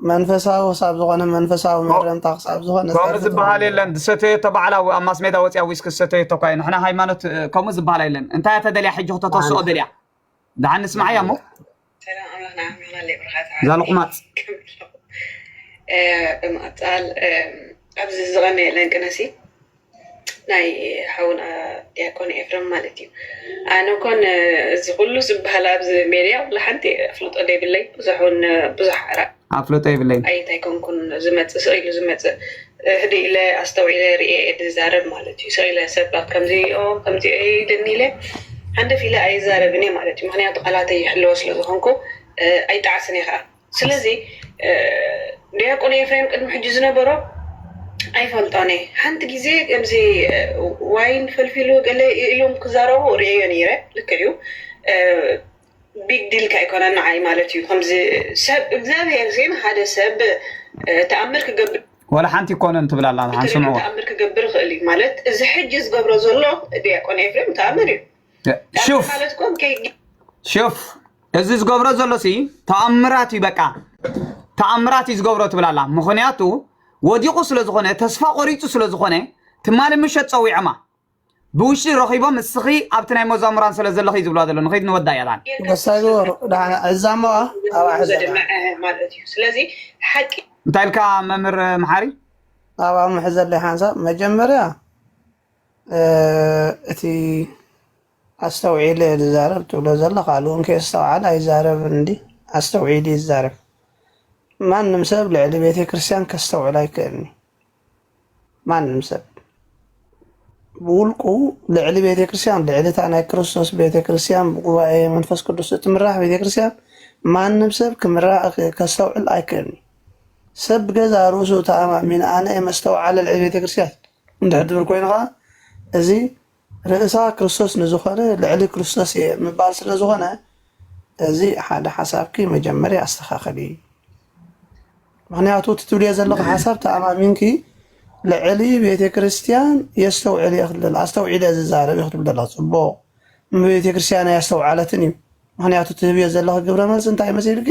[SPEAKER 2] መንፈሳዊ
[SPEAKER 3] ክሳብ ዝኾነ መንፈሳዊ ቶ- መድረምታ ክሳብ ዝኾነ ከምኡ ዝተርፍ ዝበሃል ትኸውን
[SPEAKER 2] የለን ዝሰተየቶ ባዕላ ኣብ ማስሜዳ ወፅያ ዊስኪ ዝሰተየቶ እኳ እዩ ንሕና ሃይማኖት እ፣ ከምኡ ዝበሃል የለን እንታይ እያ ተደልያ ሕጂ ክተተስኦ ማለት ደልያ ድሓን ንስማዓያ እሞ ሰላም ኣምላኽ ንዓኹም ይኹን
[SPEAKER 1] ብርኻት ዓቢ ዛልቁማፅ
[SPEAKER 2] ከምሎ
[SPEAKER 1] ብምቕጻል ኣብዚ ዝቐነየለን ቅነሲ ናይ ሓውና ዲያቆን ኤፍረም ማለት እዩ። ኣነ ኮን እዚ ኩሉ ዝበሃል ኣብዚ ሜድያ ዋላ ሓንቲ ኣፍልጦ ዘይብለይ ብዙሕ ውን ብዙሕ
[SPEAKER 2] ኣራ
[SPEAKER 1] ኣፍልጦ የብለይን ኣይት
[SPEAKER 2] ኣይኮንኩን
[SPEAKER 1] ዝመጽእ ስቅ ኢሉ ዝመጽእ ህድእ ኢለ ኣስተውዒለ ርእየ እየ ዝዛረብ ማለት እዩ። ስቅ ኢለ ሰባት ከምዚ እዮ ከምዚ እዮ ኢሉኒ ኢለ ሃንደፍ ኢለ ኣይዛረብን እየ ማለት እዩ። ምክንያቱ ቃላተይ ይሕልዎ ስለ ዝኮንኩ ኣይጠዓስን እየ ከኣ። ስለዚ ዲያቆን ኤፍሬም ቅድሚ ሕጂ ዝነበሮ ኣይፈልጦን እየ ሓንቲ ግዜ ከምዚ ዋይን ፈልፊሉ ገለ ኢሎም ክዛረቡ ርእዮ ነይረ ልክዕ እዩ ቢግ ዲል ከ ኣይኮነን ንዓይ ማለት እዩ ከምዚ ሰብ እግዚኣብሄር ዜን ሓደ ሰብ ተኣምር ክገብር ወላ ሓንቲ ይኮነን
[SPEAKER 2] ትብል ኣላ ንሓን ስምዕዋ ተኣምር ክገብር ይኽእል እዩ
[SPEAKER 1] ማለት እዚ ሕጂ ዝገብሮ ዘሎ ዲያቆን ኤፍሬም ተኣምር እዩ ሹፍ
[SPEAKER 2] ሹፍ እዚ ዝገብሮ ዘሎ ሲ ተኣምራት እዩ በቃ ተኣምራት እዩ ዝገብሮ ትብል ኣላ ምክንያቱ ወዲቑ ስለ ዝኾነ ተስፋ ቆሪፁ ስለ ዝኾነ ትማሊ ምሸት ፀዊዖማ ብውሽጢ ረኺቦም እስኺ ኣብቲ ናይ መዛሙራን ስለ ዘለኺ እዩ ዝብልዋ ዘሎ ንኸይድ ንወዳ እያ ትብል ወሳይ ግበሩ
[SPEAKER 3] ደሓን ዕዛሞ ኣብ ሕዘና
[SPEAKER 1] እንታይ ኢልካ
[SPEAKER 2] መምህር መሓሪ ኣብኣ
[SPEAKER 3] ምሕዘለይ ሓንሳብ መጀመርያ እቲ ኣስተውዒለ እየ ዝዛረብ ትብሎ ዘለኻ ሉውን ከየስተውዓለ ኣይዛረብን እንዲ ኣስተውዒሉ እዩ ዝዛረብ ማንም ሰብ ልዕሊ ቤተ ክርስቲያን ከስተውዕል ኣይክእልኒ ማንም ሰብ ብውልቁ ልዕሊ ቤተ ክርስቲያን ልዕሊ እታ ናይ ክርስቶስ ቤተ ክርስቲያን ብጉባኤ መንፈስ ቅዱስ እትምራሕ ቤተ ክርስቲያን ማንም ሰብ ከስተውዕል ኣይክእልኒ ሰብ ብገዛ ርእሱ ተኣማሚን ኣነ መስተውዓለ ልዕሊ ቤተ ክርስቲያን እንድሕድር ኮይኑ ከኣ እዚ ርእሳ ክርስቶስ ንዝኮነ ልዕሊ ክርስቶስ እየ ምባል ስለ ዝኮነ እዚ ሓደ ሓሳብኪ መጀመርያ ኣስተካክሊ ምክንያቱ እቲ ትብልዮ ዘለኪ ሓሳብ ተኣማሚንኪ ልዕሊ ቤተ ክርስትያን የስተውዕል እየ ክትብል ዘላ ኣስተውዒለ ዝዛረብ እዩ ክትብል ዘለኪ ጽቡቅ ቤተ ክርስትያን ኣያስተውዓለትን እዩ ምክንያቱ ትህብዮ ዘለኪ ግብረ መልሲ እንታይ መሲልኪ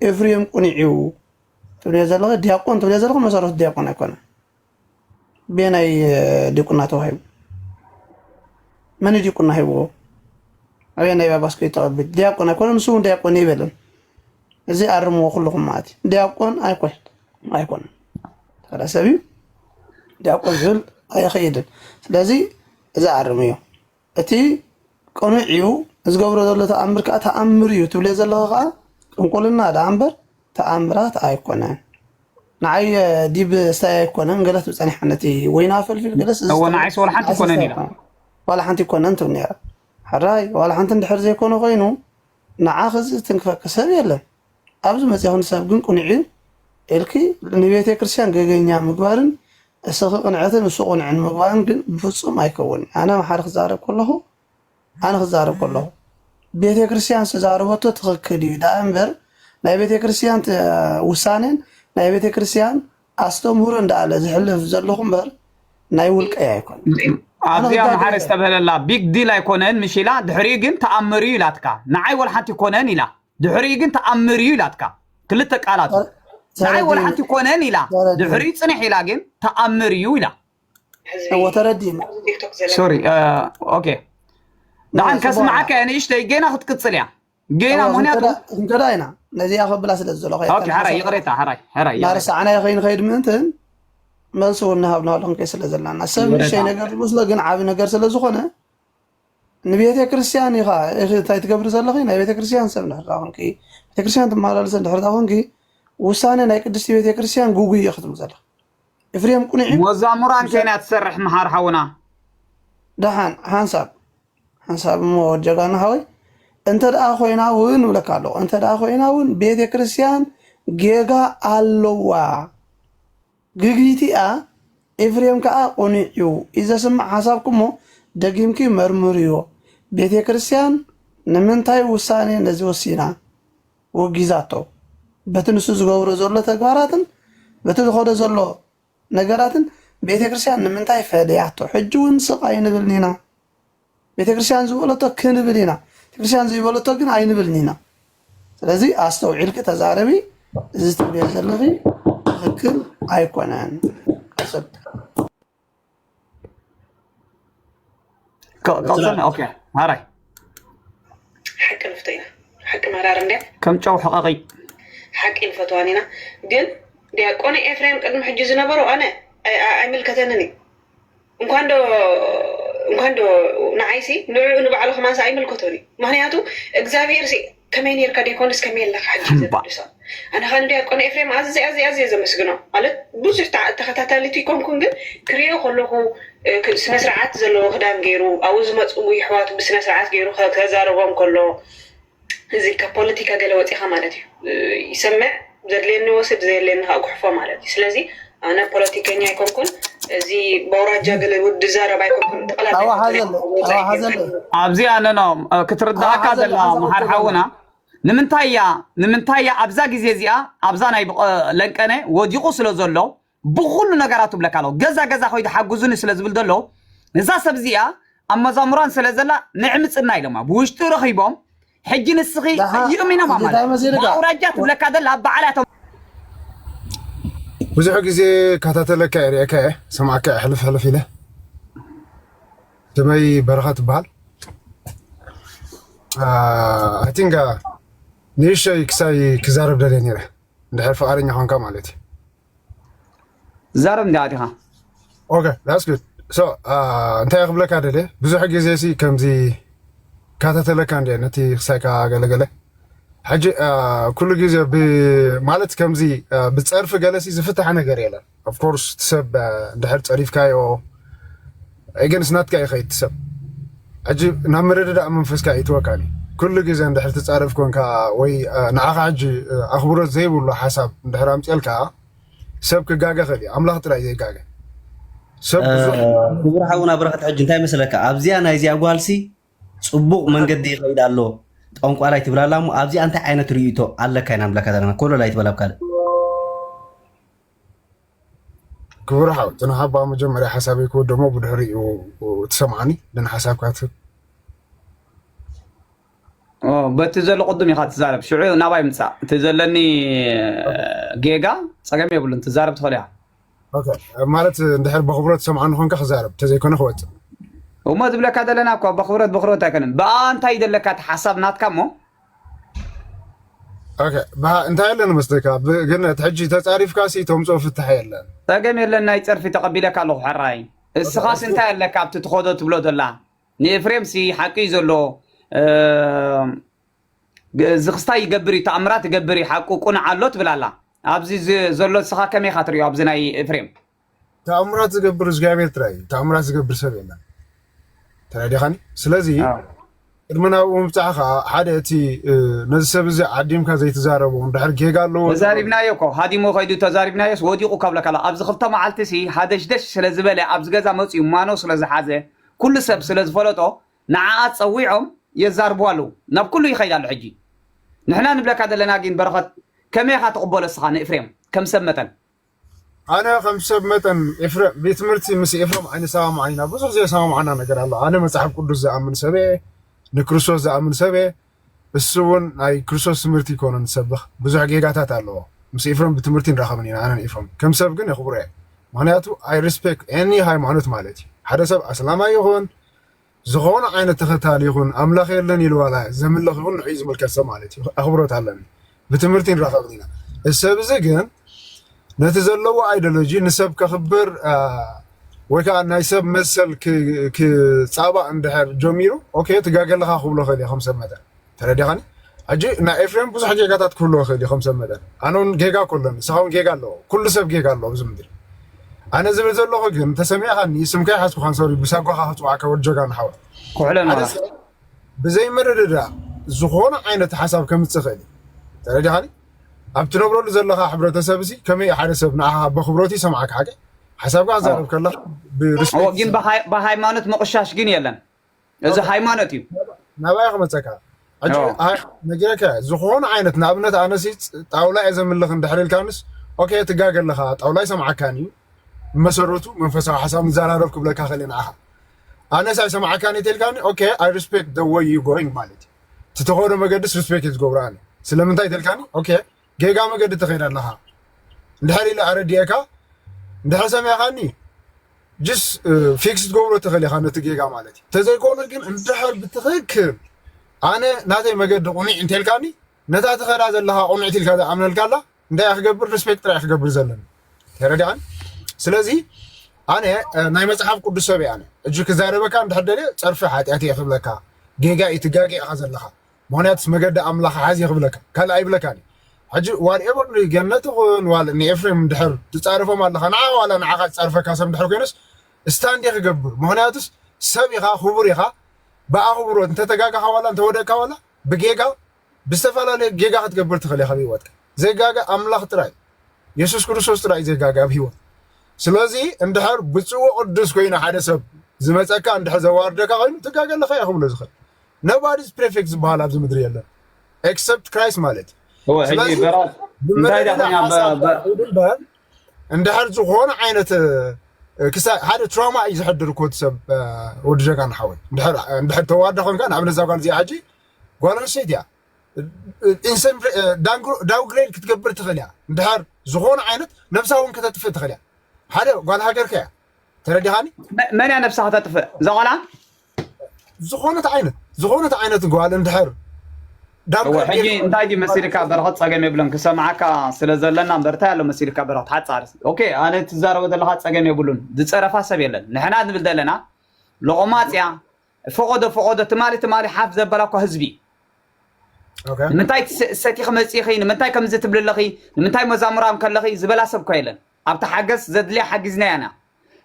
[SPEAKER 3] ኤፍሬም ቁኒዕ እዩ ትብልዮ ዘለኪ ዲያቆን ትብልዮ ዘለኪ መሰረቱ ዲያቆን ኣይኮነን ብየናይ ዲቁና ተዋሂቡ? መን እዩ ዲቁና ሂብዎ? ኣበየናይ ጳጳስ ከ ተቐብል? ዲያቆን ኣይኮነ ንሱ እውን ዲያቆን ይበለን። እዚ ኣርምዎ ኩልኹም ማለት እዩ። ዲያቆን ኣይኮን ኣይኮነ ተራ ሰብ እዩ ዲያቆን ዝብል ኣይኸይድን። ስለዚ እዚ ኣርምዮ እቲ ቅኑዕ እዩ ዝገብሮ ዘሎ ተኣምር ከኣ ተኣምር እዩ ትብልዮ ዘለኺ ከኣ ጥንቁልና ደኣ እምበር ተኣምራት ኣይኮነን። ንዓይ ዲብ ስታይ ኣይኮነን ገለ ትብል ጸኒሓ ነቲ ወይና ፈልፊል ገለስ እወ ንዓይስ ዋላ ሓንቲ ኣይኮነን
[SPEAKER 2] ኢላ ዋላ ሓንቲ
[SPEAKER 3] ኣይኮነን ትብል ነይራ ሕራይ ዋላ ሓንቲ እንድሕር ዘይኮነ ኮይኑ ንዓኺ እዚ ዝትንክፈኪ ሰብ የለን ኣብ ዝመጽእ ክንሳብ ግን ቁንዒ ኢልኪ ንቤተ ክርስቲያን ገገኛ ምግባርን እስኺ ቅንዕቲ ንሱ ቁንዕን ምግባርን ግን ብፍጹም ኣይከውን ኣነ መሓሪ ክዛረብ ከለኹ ኣነ ክዛረብ ከለኹ ቤተ ክርስቲያን ዝተዛረበቶ ትኽክል እዩ ዳኣ እምበር ናይ ቤተ ክርስቲያን ውሳኔን ናይ ቤተ ክርስቲያን ኣስተምህሮ እንዳኣለ ዝሕልፍ ዘለኹ እምበር ናይ ውልቀይ ኣይኮነ ኣብዚኣ መሓሪ
[SPEAKER 2] ዝተብህለላ ቢግ ዲል ኣይኮነን ምሽ ኢላ ድሕሪኡ ግን ተኣምር እዩ ኢላትካ ንዓይ ወልሓንቲ ኮነን ኢላ ድሕሪኡ ግን ተኣምር እዩ ኢላትካ ክልተ ቃላት እዩ ንዓይ ወላ ሓንቲ ኮነን ኢላ ድሕሪኡ ፅንሕ ኢላ ግን ተኣምር እዩ ኢላ
[SPEAKER 3] ሶሪ
[SPEAKER 2] ኦኬ ንዓን ከስምዓካ እየ ንእሽተይ ጌና ክትቅፅል እያ ጌና ምክንያቱ ክንከዳ ኢና
[SPEAKER 3] ነዚኣ ከብላ ስለ ዘለኹ ሓራይ ይቕሬታ ሓራይ
[SPEAKER 2] ሓራይ ናርሳዕና ከይንኸይድ
[SPEAKER 3] ምእንትን መልሲ እውን ንሃብ ንሃሉ ክንከይ ስለ ዘለና ሰብ ንእሽተይ ነገር ዝመስሎ ግን ዓብ ነገር ስለ ዝኾነ ንቤተ ክርስቲያን ኢኻ እንታይ ትገብሪ ዘለኺ ናይ ቤተ ክርስቲያን ሰብ እንድሕር ዳ ኮንኪ ቤተ ክርስቲያን ትመላለሲ እንድሕር ዳ ኮንኪ ውሳነ ናይ ቅድስቲ ቤተ ክርስቲያን ጉጉይ እየ ክትብሉ ዘለኺ ኤፍሬም ቁኑዕ እዩ ሞዛሙራን ከይና
[SPEAKER 2] ትሰርሕ መሓር ሓውና ደሓን
[SPEAKER 3] ሓንሳብ ሓንሳብ እሞ ጀጋና ሓወይ እንተ ደኣ ኮይና እውን እብለካ ኣለኹ እንተ ደኣ ኮይና እውን ቤተ ክርስቲያን ጌጋ ኣለዋ ግግይቲ'ያ ኤፍሬም ከኣ ቁኒዕ'ዩ ኢዩ ዘስምዕ ሓሳብኩም'ሞ ደጊምኪ መርምርዮ ቤቴክርስትያን ንምንታይ ውሳኔ ነዚ ወሲና ወጊዛቶ በቲ ንሱ ዝገብሮ ዘሎ ተግባራትን በቲ ዝኸዶ ዘሎ ነገራትን ቤቴክርስትያን ንምንታይ ፈሊያቶ ሕጂ ውን ስቅ ኣይንብልን'ና ቤተክርስትያን ዝበለቶ ክንብል ኢና ቤተክርስትያን ዘይበለቶ ግን ኣይንብልን ኢና ስለዚ ኣስተውዒልኪ ተዛረቢ እዚ ትብልዮ ዘለኺ ትክክል ኣይኮነን ማራይ ሓቂ ንፍቶ ኢና
[SPEAKER 2] ሓቂ
[SPEAKER 1] መራር እንድያ ከም ጨው ሕቐቒ
[SPEAKER 2] ሓቂ
[SPEAKER 1] ንፈትዋን ኢና ግን ዲያቆነ ኤፍሬም ቅድሚ ሕጂ ዝነበሩ ኣነ ኣይምልከተንን እዩ እንኳን ዶ እንኳን ዶ ንዓይ ሲ ንዕኡ ንባዕሉ ከማን ሰ ኣይምልከቶን እዩ ምክንያቱ እግዚኣብሄር ሲ ከመይ ነርካ ደይኮንስ ከመይ ኣለካ ሕጂ እዩ እምባ ዘገድሶ ኣነ ከ ንዲያቆን ኤፍሬም ኣዝየ ኣዝየ ኣዝየ ዘመስግኖ ማለት ብዙሕ ተዓ- ተኸታታሊት ይኮንኩን ግን ክሪኦ ከለኩ እ፣ ክ- ስነ ስርዓት ዘለዎ ክዳን ገይሩ ኣብኡ ዝመፁ ይሕዋቱ ብስነ ስርዓት ገይሩ ከ- ከዛርቦም ከሎ እዚ ካብ ፖለቲካ ገለ ወፂኻ ማለት እዩ። ይሰምዕ ዘድልየኒ ይወስድ ዘየድልየኒ ከዓ ጉሕፎ ማለት እዩ። ስለዚ ኣነ ፖለቲከኛ ኣይኮንኩን እዚ በውራጃ ገለ ውድ ዛረብ ኣይኮንኩን ጠቅላላ ኣዋ ኣይኮንኩን ሓዘለ ኣብ ወፃኢ
[SPEAKER 3] ኣዋ ሓዘለ ጌርካ ኣብዚ ኣለና
[SPEAKER 2] ኣዋ ክትርዳእካ ሓዘለ ዘላ ሓንሳእ መሓር ወዳባ ሓውና ኣለና ንምንታይ እያ ንምንታይ እያ ኣብዛ ግዜ እዚኣ ኣብዛ ናይ ብቐ- ለንቀነ ወዲቑ ስለ ዘሎ ብኹሉ ነገራቱ እብለካ ኣለኹ ገዛ ገዛ ከይዱ ሓጉዙኒ ስለ ዝብል ዘሎ እዛ ሰብ እዚኣ ኣብ መዛሙራን ስለ ዘላ ንዕምጽና ኢሎማ ብውሽጢ ረኺቦም ሕጂ ንስኺ ደሓ ይእሚኖማ ሕጂ እንታይ ማለት እዩ። መሲልካ ብኣውራጃ ወ- ትብለካ ዘላ በዓል እያቶም
[SPEAKER 8] ብዙሕ ግዜ ካታተለካ እየ ርኤካ እየ ሰማዕካ እየ ሕልፍ ሕልፍ ኢለ ስመይ በረኸ ትበሃል ኣይ ቲንክ ንእሽተይ ክሳይ ክዛረብ ደልየ ነይረ እንድሕር ፍቓደኛ ኮንካ ማለት እዩ ዛረብ
[SPEAKER 2] እንዲያ ዲኻ ኦኬ
[SPEAKER 8] ዳስ ግድ ሶ እንታይ ክብለካ ደልየ ብዙሕ ግዜ ሲ ከምዚ ካታተለካ እንዲየ ነቲ ክሳይካ ገለገለ ሕጂ ኩሉ ግዜ ማለት ከምዚ ብፀርፊ ገለሲ ዝፍታሕ ነገር የለን ኦፍኮርስ እቲ ሰብ ድሕር ፀሪፍካዮ ኤገንስ ናትካ ኢካ ኢቲ ሰብ ሕጂ ናብ ምርድዳእ መንፈስካ የእትወካን ኢዩ ኩሉ ግዜ እንድሕር ትጻረፍ ኮንካ ወይ ንዓካ ሕጂ ኣክብሮት ዘይብሉ ሓሳብ እንድሕር ኣምጼልካ ሰብ ክጋገ ይክእል ኢዩ ኣምላክ ጥራይ ዘይጋገ ሰብ ብዙሕ ክቡር
[SPEAKER 6] ሓውና ብረኸት ሕጂ እንታይ መሰለካ ኣብዚኣ ናይዚኣ ጓልሲ ጽቡቕ መንገዲ ይኸይድ ኣሎ ጠንቋላይ ትብላ ኣላ እሞ ኣብዚኣ እንታይ ዓይነት ርእይቶ ኣለካ ኢና ንብለካ ዘለና ኮለል ኣይትበል ኣብ ካልእ
[SPEAKER 8] ክቡር ሓው እቲ ንኻ እባ መጀመርያ ሓሳበይ ክወደሞ ብድሕሪኡ ትሰምዓኒ ን ሓሳብካ ትህብ
[SPEAKER 2] በቲ ዘሎ ቅድም ኢኻ ትዛረብ ሽዑ ናባይ ምፃእ እቲ ዘለኒ ጌጋ ፀገም የብሉን ትዛረብ ትኽእል ኢኻ
[SPEAKER 8] ማለት እንድሕር ብክብሮ ትሰምዓኒ ኮንካ ክዛረብ ተዘይኮነ ክወፅእ እሞ
[SPEAKER 2] ዝብለካ ዘለና እኳ ብክብረት ብክብረት ኣይኮነን ብኣ እንታይ ይደለካ እቲ ሓሳብ ናትካ እሞ
[SPEAKER 8] እንታይ ኣለኒ መስለካ ግን እቲ ሕጂ ተጻሪፍካ ሲ ተምጽኦ ፍታሕ የለን ጸገም የለን ናይ
[SPEAKER 2] ጸርፊ ተቐቢለካ ኣለኹ ሕራይ እስኻስ እንታይ ኣለካ ኣብቲ ትኸዶ ትብሎ ዘላ ንኤፍሬም ሲ ሓቂ እዩ ዘሎ ዝኽስታይ ይገብር እዩ ተኣምራት ይገብር እዩ ሓቁ ቁኑዕ ኣሎ ትብል ኣላ ኣብዚ ዘሎ እስኻ ከመይ ኢኻ ትሪኦ ኣብዚ ናይ ኤፍሬም ተኣምራት
[SPEAKER 8] ዝገብር እግዚኣብሔር ጥራይ እዩ ተኣምራት ዝገብር ሰብ የለን ተረዲኻኒ ስለዚ ቅድሚ ናብኡ ምብፃሕኻ ሓደ እቲ ነዚ ሰብ እዚ ዓዲምካ ዘይትዛረቦ እንድሕር ጌጋ ኣለዎ ተዛሪብናዮ እኮ
[SPEAKER 2] ሃዲሞ ከይዱ ተዛሪብናዮስ ወዲቑ ካብለካላ ኣብዚ ክልተ መዓልቲ ሲ ሃደሽደሽ ስለ ዝበለ ኣብዚ ገዛ መፅኡ ማኖ ስለ ዝሓዘ ኩሉ ሰብ ስለ ዝፈለጦ ንዓኣ ፀዊዖም የዛርብዋ ኣለዉ ናብ ኩሉ ይኸይድ ኣሎ ሕጂ ንሕና ንብለካ ዘለና ጊን በረኸት ከመይ ኢኻ ትቕበሎ እስኻ ንእፍሬም ከም ሰብ መጠን ኣነ
[SPEAKER 8] ከም ሰብ መጠን ኤፍረም ቤት ትምህርቲ ምስ ኤፍረም ኣይንሰማማዕን ኢና ብዙሕ ዘየሰማማዕና ነገር ኣሎ ኣነ መጽሓፍ ቅዱስ ዝኣምን ሰብ እየ ንክርስቶስ ዝኣምን ሰብ እየ እሱ እውን ናይ ክርስቶስ ትምህርቲ ይኮኑ ንሰብኽ ብዙሕ ጌጋታት ኣለዎ ምስ ኤፍረም ብትምህርቲ ንራኸብን ኢና ኣነን ኤፍረም ከም ሰብ ግን የኽብሮ እየ ምክንያቱ ኣይ ሪስፔክት ኤኒ ሃይማኖት ማለት እዩ ሓደ ሰብ ኣስላማይ ይኹን ዝኮነ ዓይነት ተከታሊ ይኩን ኣምላክ የለን ኢሉ ዋላ ዘምልክ ይኩን ንዕኡ ዝምልከት ሰብ ማለት እዩ ኣክብሮት ኣለኒ ብትምህርቲ ንራከብ ኢና እዚ ሰብ እዚ ግን ነቲ ዘለዎ ኣይደሎጂ ንሰብ ከክብር ወይ ከዓ ናይ ሰብ መሰል ክፃባእ እንድሕር ጀሚሩ ኦኬ ትጋገለካ ክብሎ ክእል እየ ከም ሰብ መጠን ተረዲኻኒ ሕጂ ናይ ኤፍሬም ብዙሕ ጌጋታት ክህልዎ ይኽእል እዩ ከም ሰብ መጠን ኣነ ውን ጌጋ እኮ ኣሎኒ ንስኻ ውን ጌጋ ኣለዎ ኩሉ ሰብ ጌጋ ኣለዎ ኣብዚ ምድሪ ኣነ ዝብል ዘለኹ ግን ተሰሚዕኻኒ ስም ከይሓዝኩኻን ሶሪ ብሳጓኻ ክጽውዓካ ወድ ጀጋኑ ሓወይ ኩሕለ ሓደ ኖራ ሰብ
[SPEAKER 2] ብዘይ
[SPEAKER 8] ምርድዳእ ዝኾነ ዓይነት ሓሳብ ከምጽእ ይኽእል እዩ ተረዲኻኒ ኣብ ትነብረሉ ዘለኻ ሕብረተሰብሲ ከመይ እዩ ሓደ ሰብ ንዓኻ በኽብሮት ይሰምዓካ ሓቂ ሓሳብካ ክዛረብ ኣዎ ከለኻ ኣዎ ብሪስፔክት ግን ይሰምዓካ ብሃይ
[SPEAKER 2] ብሃይማኖት ምቕሻሽ ግን የለን እዚ ሃይማኖት እዩ ናባይ ክመፀካ
[SPEAKER 8] ሕጂ ኦ። ኣይ ነጊረካ እየ ዝኾነ ዓይነት ንኣብነት ኣነሲ ፅ- ጣውላ እየ ዘምልኽ እንድሕር ኢልካንስ ኦኬ ትጋገ ኣለኻ ጣውላ ኣይሰምዓካን እዩ ብመሰረቱ መንፈሳዊ ሓሳብ ንዘራረብ ክብለካ ክእል እየ ንዓኻ ኣነስ ኣይሰምዓካን እዩ ተልካኒ ኦኬ ኣይ ሪስፔክት ደ ወይ ዩ ጎይንግ ማለት እዩ እቲ ተኸዶ መገድስ ሪስፔክት እዩ ዝገብሮ ኣነ ስለምንታይ ተልካኒ ኦኬ ጌጋ መገዲ ትኸይድ ኣለኻ እንድሕር ኢለ ኣረዲኤካ እንድሕር ሰሚዕኻኒ ጅስ ፊክስ ትገብሮ ትኽእል ኢኻ ነቲ ጌጋ ማለት እዩ ተዘይኮነ ግን እንድሕር ብትኽክል ኣነ ናተይ መገዲ ቁኒዕ እንተልካኒ ነታ ትኸዳ ዘለኻ ቁንዕቲ ኢልካ ዝኣምነልካ ኣላ እንታይ እያ ክገብር ሪስፔክት ጥራይ ክገብር ዘለኒ ተረዲኣን ስለዚ ኣነ ናይ መፅሓፍ ቅዱስ ሰብ እየ ኣነ እጅ ክዛረበካ እንድሕር ደልየ ፀርፊ ሓጢኣት እየ ክብለካ ጌጋ እዩ ትጋጌ ኢኻ ዘለኻ ምክንያቱስ መገዲ ኣምላክ ሓዝ ክብለካ ካልእ ኣይብለካን እዩ ሕጂ ዋት ኤቨር ንገነት ይኩን ዋል ንኤፍሬም እንድሕር ትጻረፎም ኣለካ ንዓካ ዋላ ንዓካ ዝጻርፈካ ሰብ እንድሕር ኮይኑስ ስታንድ እየ ክገብር ምክንያቱስ ሰብ ኢካ ኩቡር ኢካ ብኣኩቡሮት እንተ ተጋጋካ ዋላ እንተ ወደቅካ ዋላ ብጌጋ ብዝተፈላለየ ጌጋ ክትገብር ትክል ኢካ ኣብ ሂወትካ ዘይጋገ ኣምላክ ጥራይ የሱስ ክርስቶስ ጥራይ ዘይጋገ ኣብ ሂወት ስለዚ እንድሕር ብጹእ ወቅዱስ ኮይኑ ሓደ ሰብ ዝመጸካ እንድሕር ዘዋርደካ ኮይኑ ትጋገ ኣለካ ኢየ ክብሎ ዝክል Nobody is prefect ዝበሃል ኣብዚ ምድሪ የለን except Christ ማለት እዩ ስለዚ
[SPEAKER 2] ብምርድዳእ ሓሳብ ትኹድ እምበር እንድሕር ዝኾነ ዓይነት ክሳብ ሓደ ትራውማ እዩ ዘሕድር እኮ እቲ ሰብ ወዲ ጀጋኑ ሓወይ እንድሕር ተዋዳ ኮንካ ንኣብነት እዛ ጓል እዚኣ ሕጂ ጓል ኣንስተይቲ እያ ኢንሰን ዳውግሬድ ክትገብር ትኽእል እያ እንድሕር ዝኾነ ዓይነት ነብሳ እውን ከተጥፍእ ትኽእል እያ ሓደ ጓል ሃገርካ እያ ተረዲኻኒ መን እያ ነብሳ ከተጥፍእ እዛ ጓላ ዝኾነት ዓይነት ዝኾነት ዓይነት ጓል እንድሕር እወ ሕጂ እንታይ ድዩ መሲልካ በረኸት ጸገም የብሉን ክሰምዓካ ስለ ዘለና እምበር እንታይ ኣሎ መሲልካ በረኸት ሓጻር ኦኬ ኣነ ትዛረቦ ዘለኻ ጸገም የብሉን ዝጸረፋ ሰብ የለን ንሕና ንብል ዘለና ሎቆማጽ እያ ፈቐዶ ፈቐዶ ትማሊ ትማሊ ሓፍ ዘበላ እኳ ህዝቢ
[SPEAKER 8] ንምንታይ
[SPEAKER 2] ሰቲኺ መጺኺ ንምንታይ ከምዚ ትብሊ ኣለኺ ንምንታይ መዛሙራን ከለኺ ዝበላ ሰብ እኳ የለን ኣብታ ሓገዝ ዘድልያ ሓጊዝናያ ኢና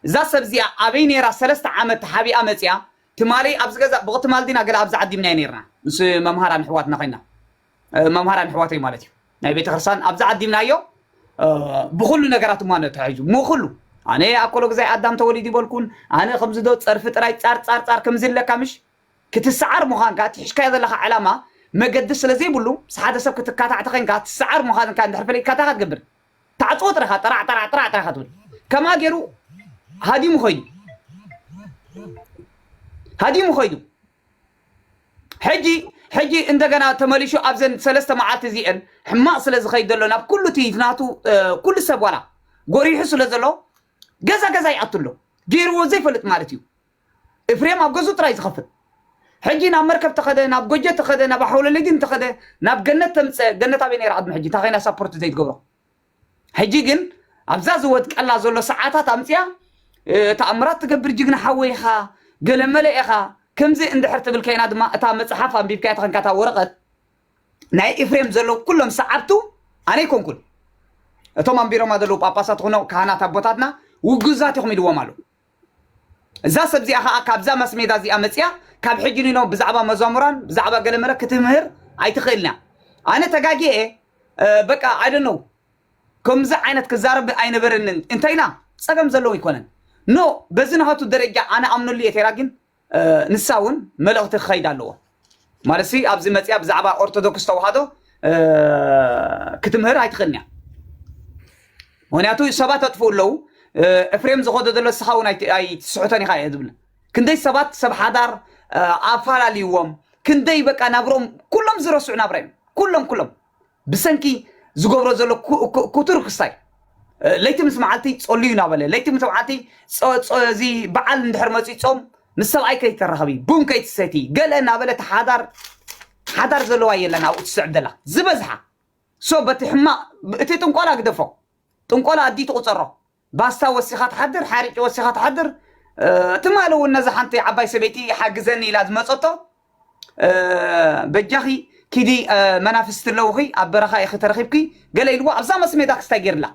[SPEAKER 2] እዛ ሰብ እዚኣ ኣበይ ነይራ ሰለስተ ዓመት ተሓቢኣ መጺኣ ትማሊ ኣብዚ ገዛ ብቅ ትማል ዲና ገለ ኣብዚ ዓዲምናዮ ነርና ምስ መምሃራን ኣሕዋትና ኮይና መምሃራን ኣሕዋተይ ማለት እዩ ናይ ቤተክርስትያን ኣብዚ ዓዲምናዮ ብኩሉ ነገራት እማ ተታሒዙ እሞ ኩሉ ኣነ ኣኮሎ ግዛይ ኣዳም ተወሊዱ ይበልኩን ኣነ ከምዚ ዶ ጸርፊ ጥራይ ጻር ጻር ጻር ከምዚ ኣለካ ምሽ ክትሰዓር ምዃንካ ትሕሽካዮ ዘለካ ዕላማ መገዲ ስለ ዘይብሉ ምስ ሓደ ሰብ ክትካታዕ ተኸንካ ትሰዓር ምዃንካ እንድሕር ፈሊጥካ እንታይ ትገብር ታዕጽዎ ጥረ ኢኻ ጠራዕ ጠራዕ ጥራዕ ጥራይ ኢኻ ትብል ከምኣ ገይሩ ሃዲሙ ኸይዱ ሃዲሙ ኸይዱ ሕጂ ሕጂ እንደገና ተመሊሹ ኣብዘን ሰለስተ መዓልቲ እዚአን ሕማቕ ስለ ዝኸይድ ዘሎ ናብ ኩሉ እቲ ናቱ ኩሉ ሰብ ዋላ ጎሪሑ ስለ ዘሎ ገዛ ገዛ ይኣቱ ኣሎ ገይርዎ ዘይፈልጥ ማለት እዩ እፍሬም ኣብ ገዝኡ ጥራይ ዝኸፍት ሕጂ ናብ መርከብ ተኸደ ናብ ጎጀ ተኸደ ናብ ኣሐውለሊዲን ተኸደ ናብ ገነት ተምጸ ገነት ኣበይ ነይራ ቅድሚ ሕጂ እንታይ ኮይና ሳፖርት ዘይትገብሮ ሕጂ ግን ኣብዛ ዝወድቀላ ዘሎ ሰዓታት ኣምጽያ ተኣምራት ትገብር ጅግና ሓወይ ኢኻ ገለመለ ኢኻ ከምዚ እንድሕር ትብል ከይና ድማ እታ መጽሓፍ ኣንቢብካያ ተኸንካ እታ ወረቐት ናይ ኤፍሬም ዘለዉ ኩሎም ሰዓብቱ ኣነ ይኮንኩን እቶም ኣንቢሮማ ዘለዉ ጳጳሳት ኹኖ ካህናት ኣቦታትና ውጉዛት ኢኹም ኢልዎም ኣለዉ እዛ ሰብ እዚኣ ከኣ ካብዛ ማስሜዳ እዚኣ መጺኣ ካብ ሕጂ ንኖ ብዛዕባ መዛሙራን ብዛዕባ ገለመለ ክትምህር ኣይትኽእልንያ ኣነ ተጋጊኤ በቃ ኣይ ዶንት ኖ ከምዚ ዓይነት ክዛረብ ኣይነበረንን እንተኢላ ጸገም ዘለዎ ኣይኮነን ኖ በዚ ናሃቱ ደረጃ ኣነ ኣምነሉ እየ ተይላ ግን ንሳ እውን መልእኽቲ ክኸይድ ኣለዎ ማለት ሲ ኣብዚ መፅያ ብዛዕባ ኦርቶዶክስ ተዋህዶ ክትምህር ኣይትኽእልን እያ ምክንያቱ ሰባት ኣጥፍኡ ኣለዉ እፍሬም ዝኸዶ ዘሎ ንስኻ እውን ኣይትስሕቶን ኢኻ እየ ዝብል ክንደይ ሰባት ሰብ ሓዳር ኣፋላልይዎም ክንደይ በቃ ናብሮም ኩሎም ዝረስዑ ናብራ እዮም ኩሎም ኩሎም ብሰንኪ ዝገብሮ ዘሎ ኩቱር ክስታይ ለይቲ ምስ መዓልቲ ጸልዩ እናበለ ለይቲ ምስ መዓልቲ እዚ በዓል እንድሕር መፅኡ ጾም ምስ ሰብኣይ ከይተራኸቢ ቡን ከይትሰቲ ገለ እናበለ እቲ ሓዳር ሓዳር ዘለዋ የለን ኣብኡ ትስዕብ ዘላ ዝበዝሓ ሶ በቲ ሕማቕ እቲ ጥንቆላ ግደፎ ጥንቆላ ኣዲ ትቑፀሮ ባስታ ወሲኻ ትሓድር ሓርጭ ወሲኻ ትሓድር ትማሊ እውን ነዛ ሓንቲ ዓባይ ሰበይቲ ሓግዘኒ ኢላ ዝመፀቶ በጃኺ ኪዲ መናፍስቲ ኣለውኺ ኣብ በረኻ ኢኺ ተረኺብኪ ገለ ኢልዎ ኣብዛ መስሜዳ ክስታይ ገይርላ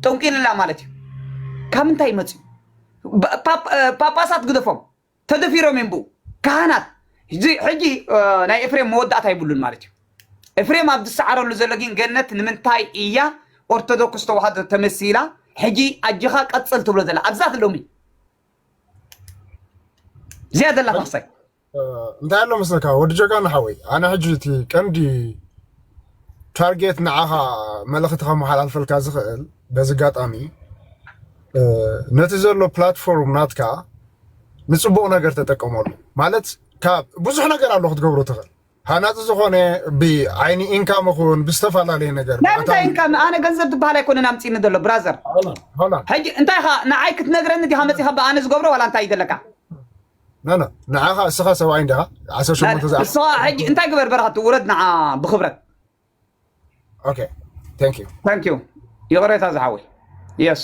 [SPEAKER 2] ጠንቂልላ ማለት እዩ ካብ እንታይ መፅዩ ጳጳሳት ግደፎም ተደፊሮም እዮም ብኡ ካህናት እዚ ሕጂ ናይ ኤፍሬም መወዳእታ ይብሉን ማለት እዩ ኤፍሬም ኣብ ዝሰዓረሉ ዘሎ ግን ገነት ንምንታይ እያ ኦርቶዶክስ ተዋህዶ ተመሲላ ሕጂ ኣጅኻ ቀጽል ትብሎ ዘላ ኣብዛ ሎሚ እዚኣ ዘላ ተኽሳይ እንታይ
[SPEAKER 8] ኣሎ መስለካ ወዲ ጀጋኑ ሓወይ ኣነ ሕጂ እቲ ቀንዲ ታርጌት ንዓኻ መልእኽቲ ከመሓላልፈልካ ዝኽእል በዚ ኣጋጣሚ ነቲ ዘሎ ፕላትፎርም ናትካ ንፅቡቕ ነገር ተጠቀመሉ ማለት ካብ ብዙሕ ነገር ኣሎ ክትገብሮ ትኽእል ሃናፂ ዝኾነ ብዓይኒ ኢንካም ይኹን ብዝተፈላለየ ነገር ናይ ምንታይ ኢንካም ኣነ
[SPEAKER 2] ገንዘብ ዝበሃል ኣይኮነን ኣምፂኒ ዘሎ ብራዘር ሕጂ
[SPEAKER 8] እንታይ ኢኻ
[SPEAKER 2] ንዓይ ክትነግረኒ ዲኻ መፂኻ ብኣነ ዝገብሮ ዋላ እንታይ ይደለካ ኖ ኖ
[SPEAKER 8] ንዓኻ እስኻ ሰብኣይ እንዲኻ ዓሰርተ ሸሞንተ ዝኣ ንስኻ ሕጂ እንታይ ግበር
[SPEAKER 2] በረኸት ውረድ ንዓ ብኽብረት ኦኬ ታንክ ዩ ታንክ
[SPEAKER 8] ዩ
[SPEAKER 2] ይቕሬታ ዝሓወይ የስ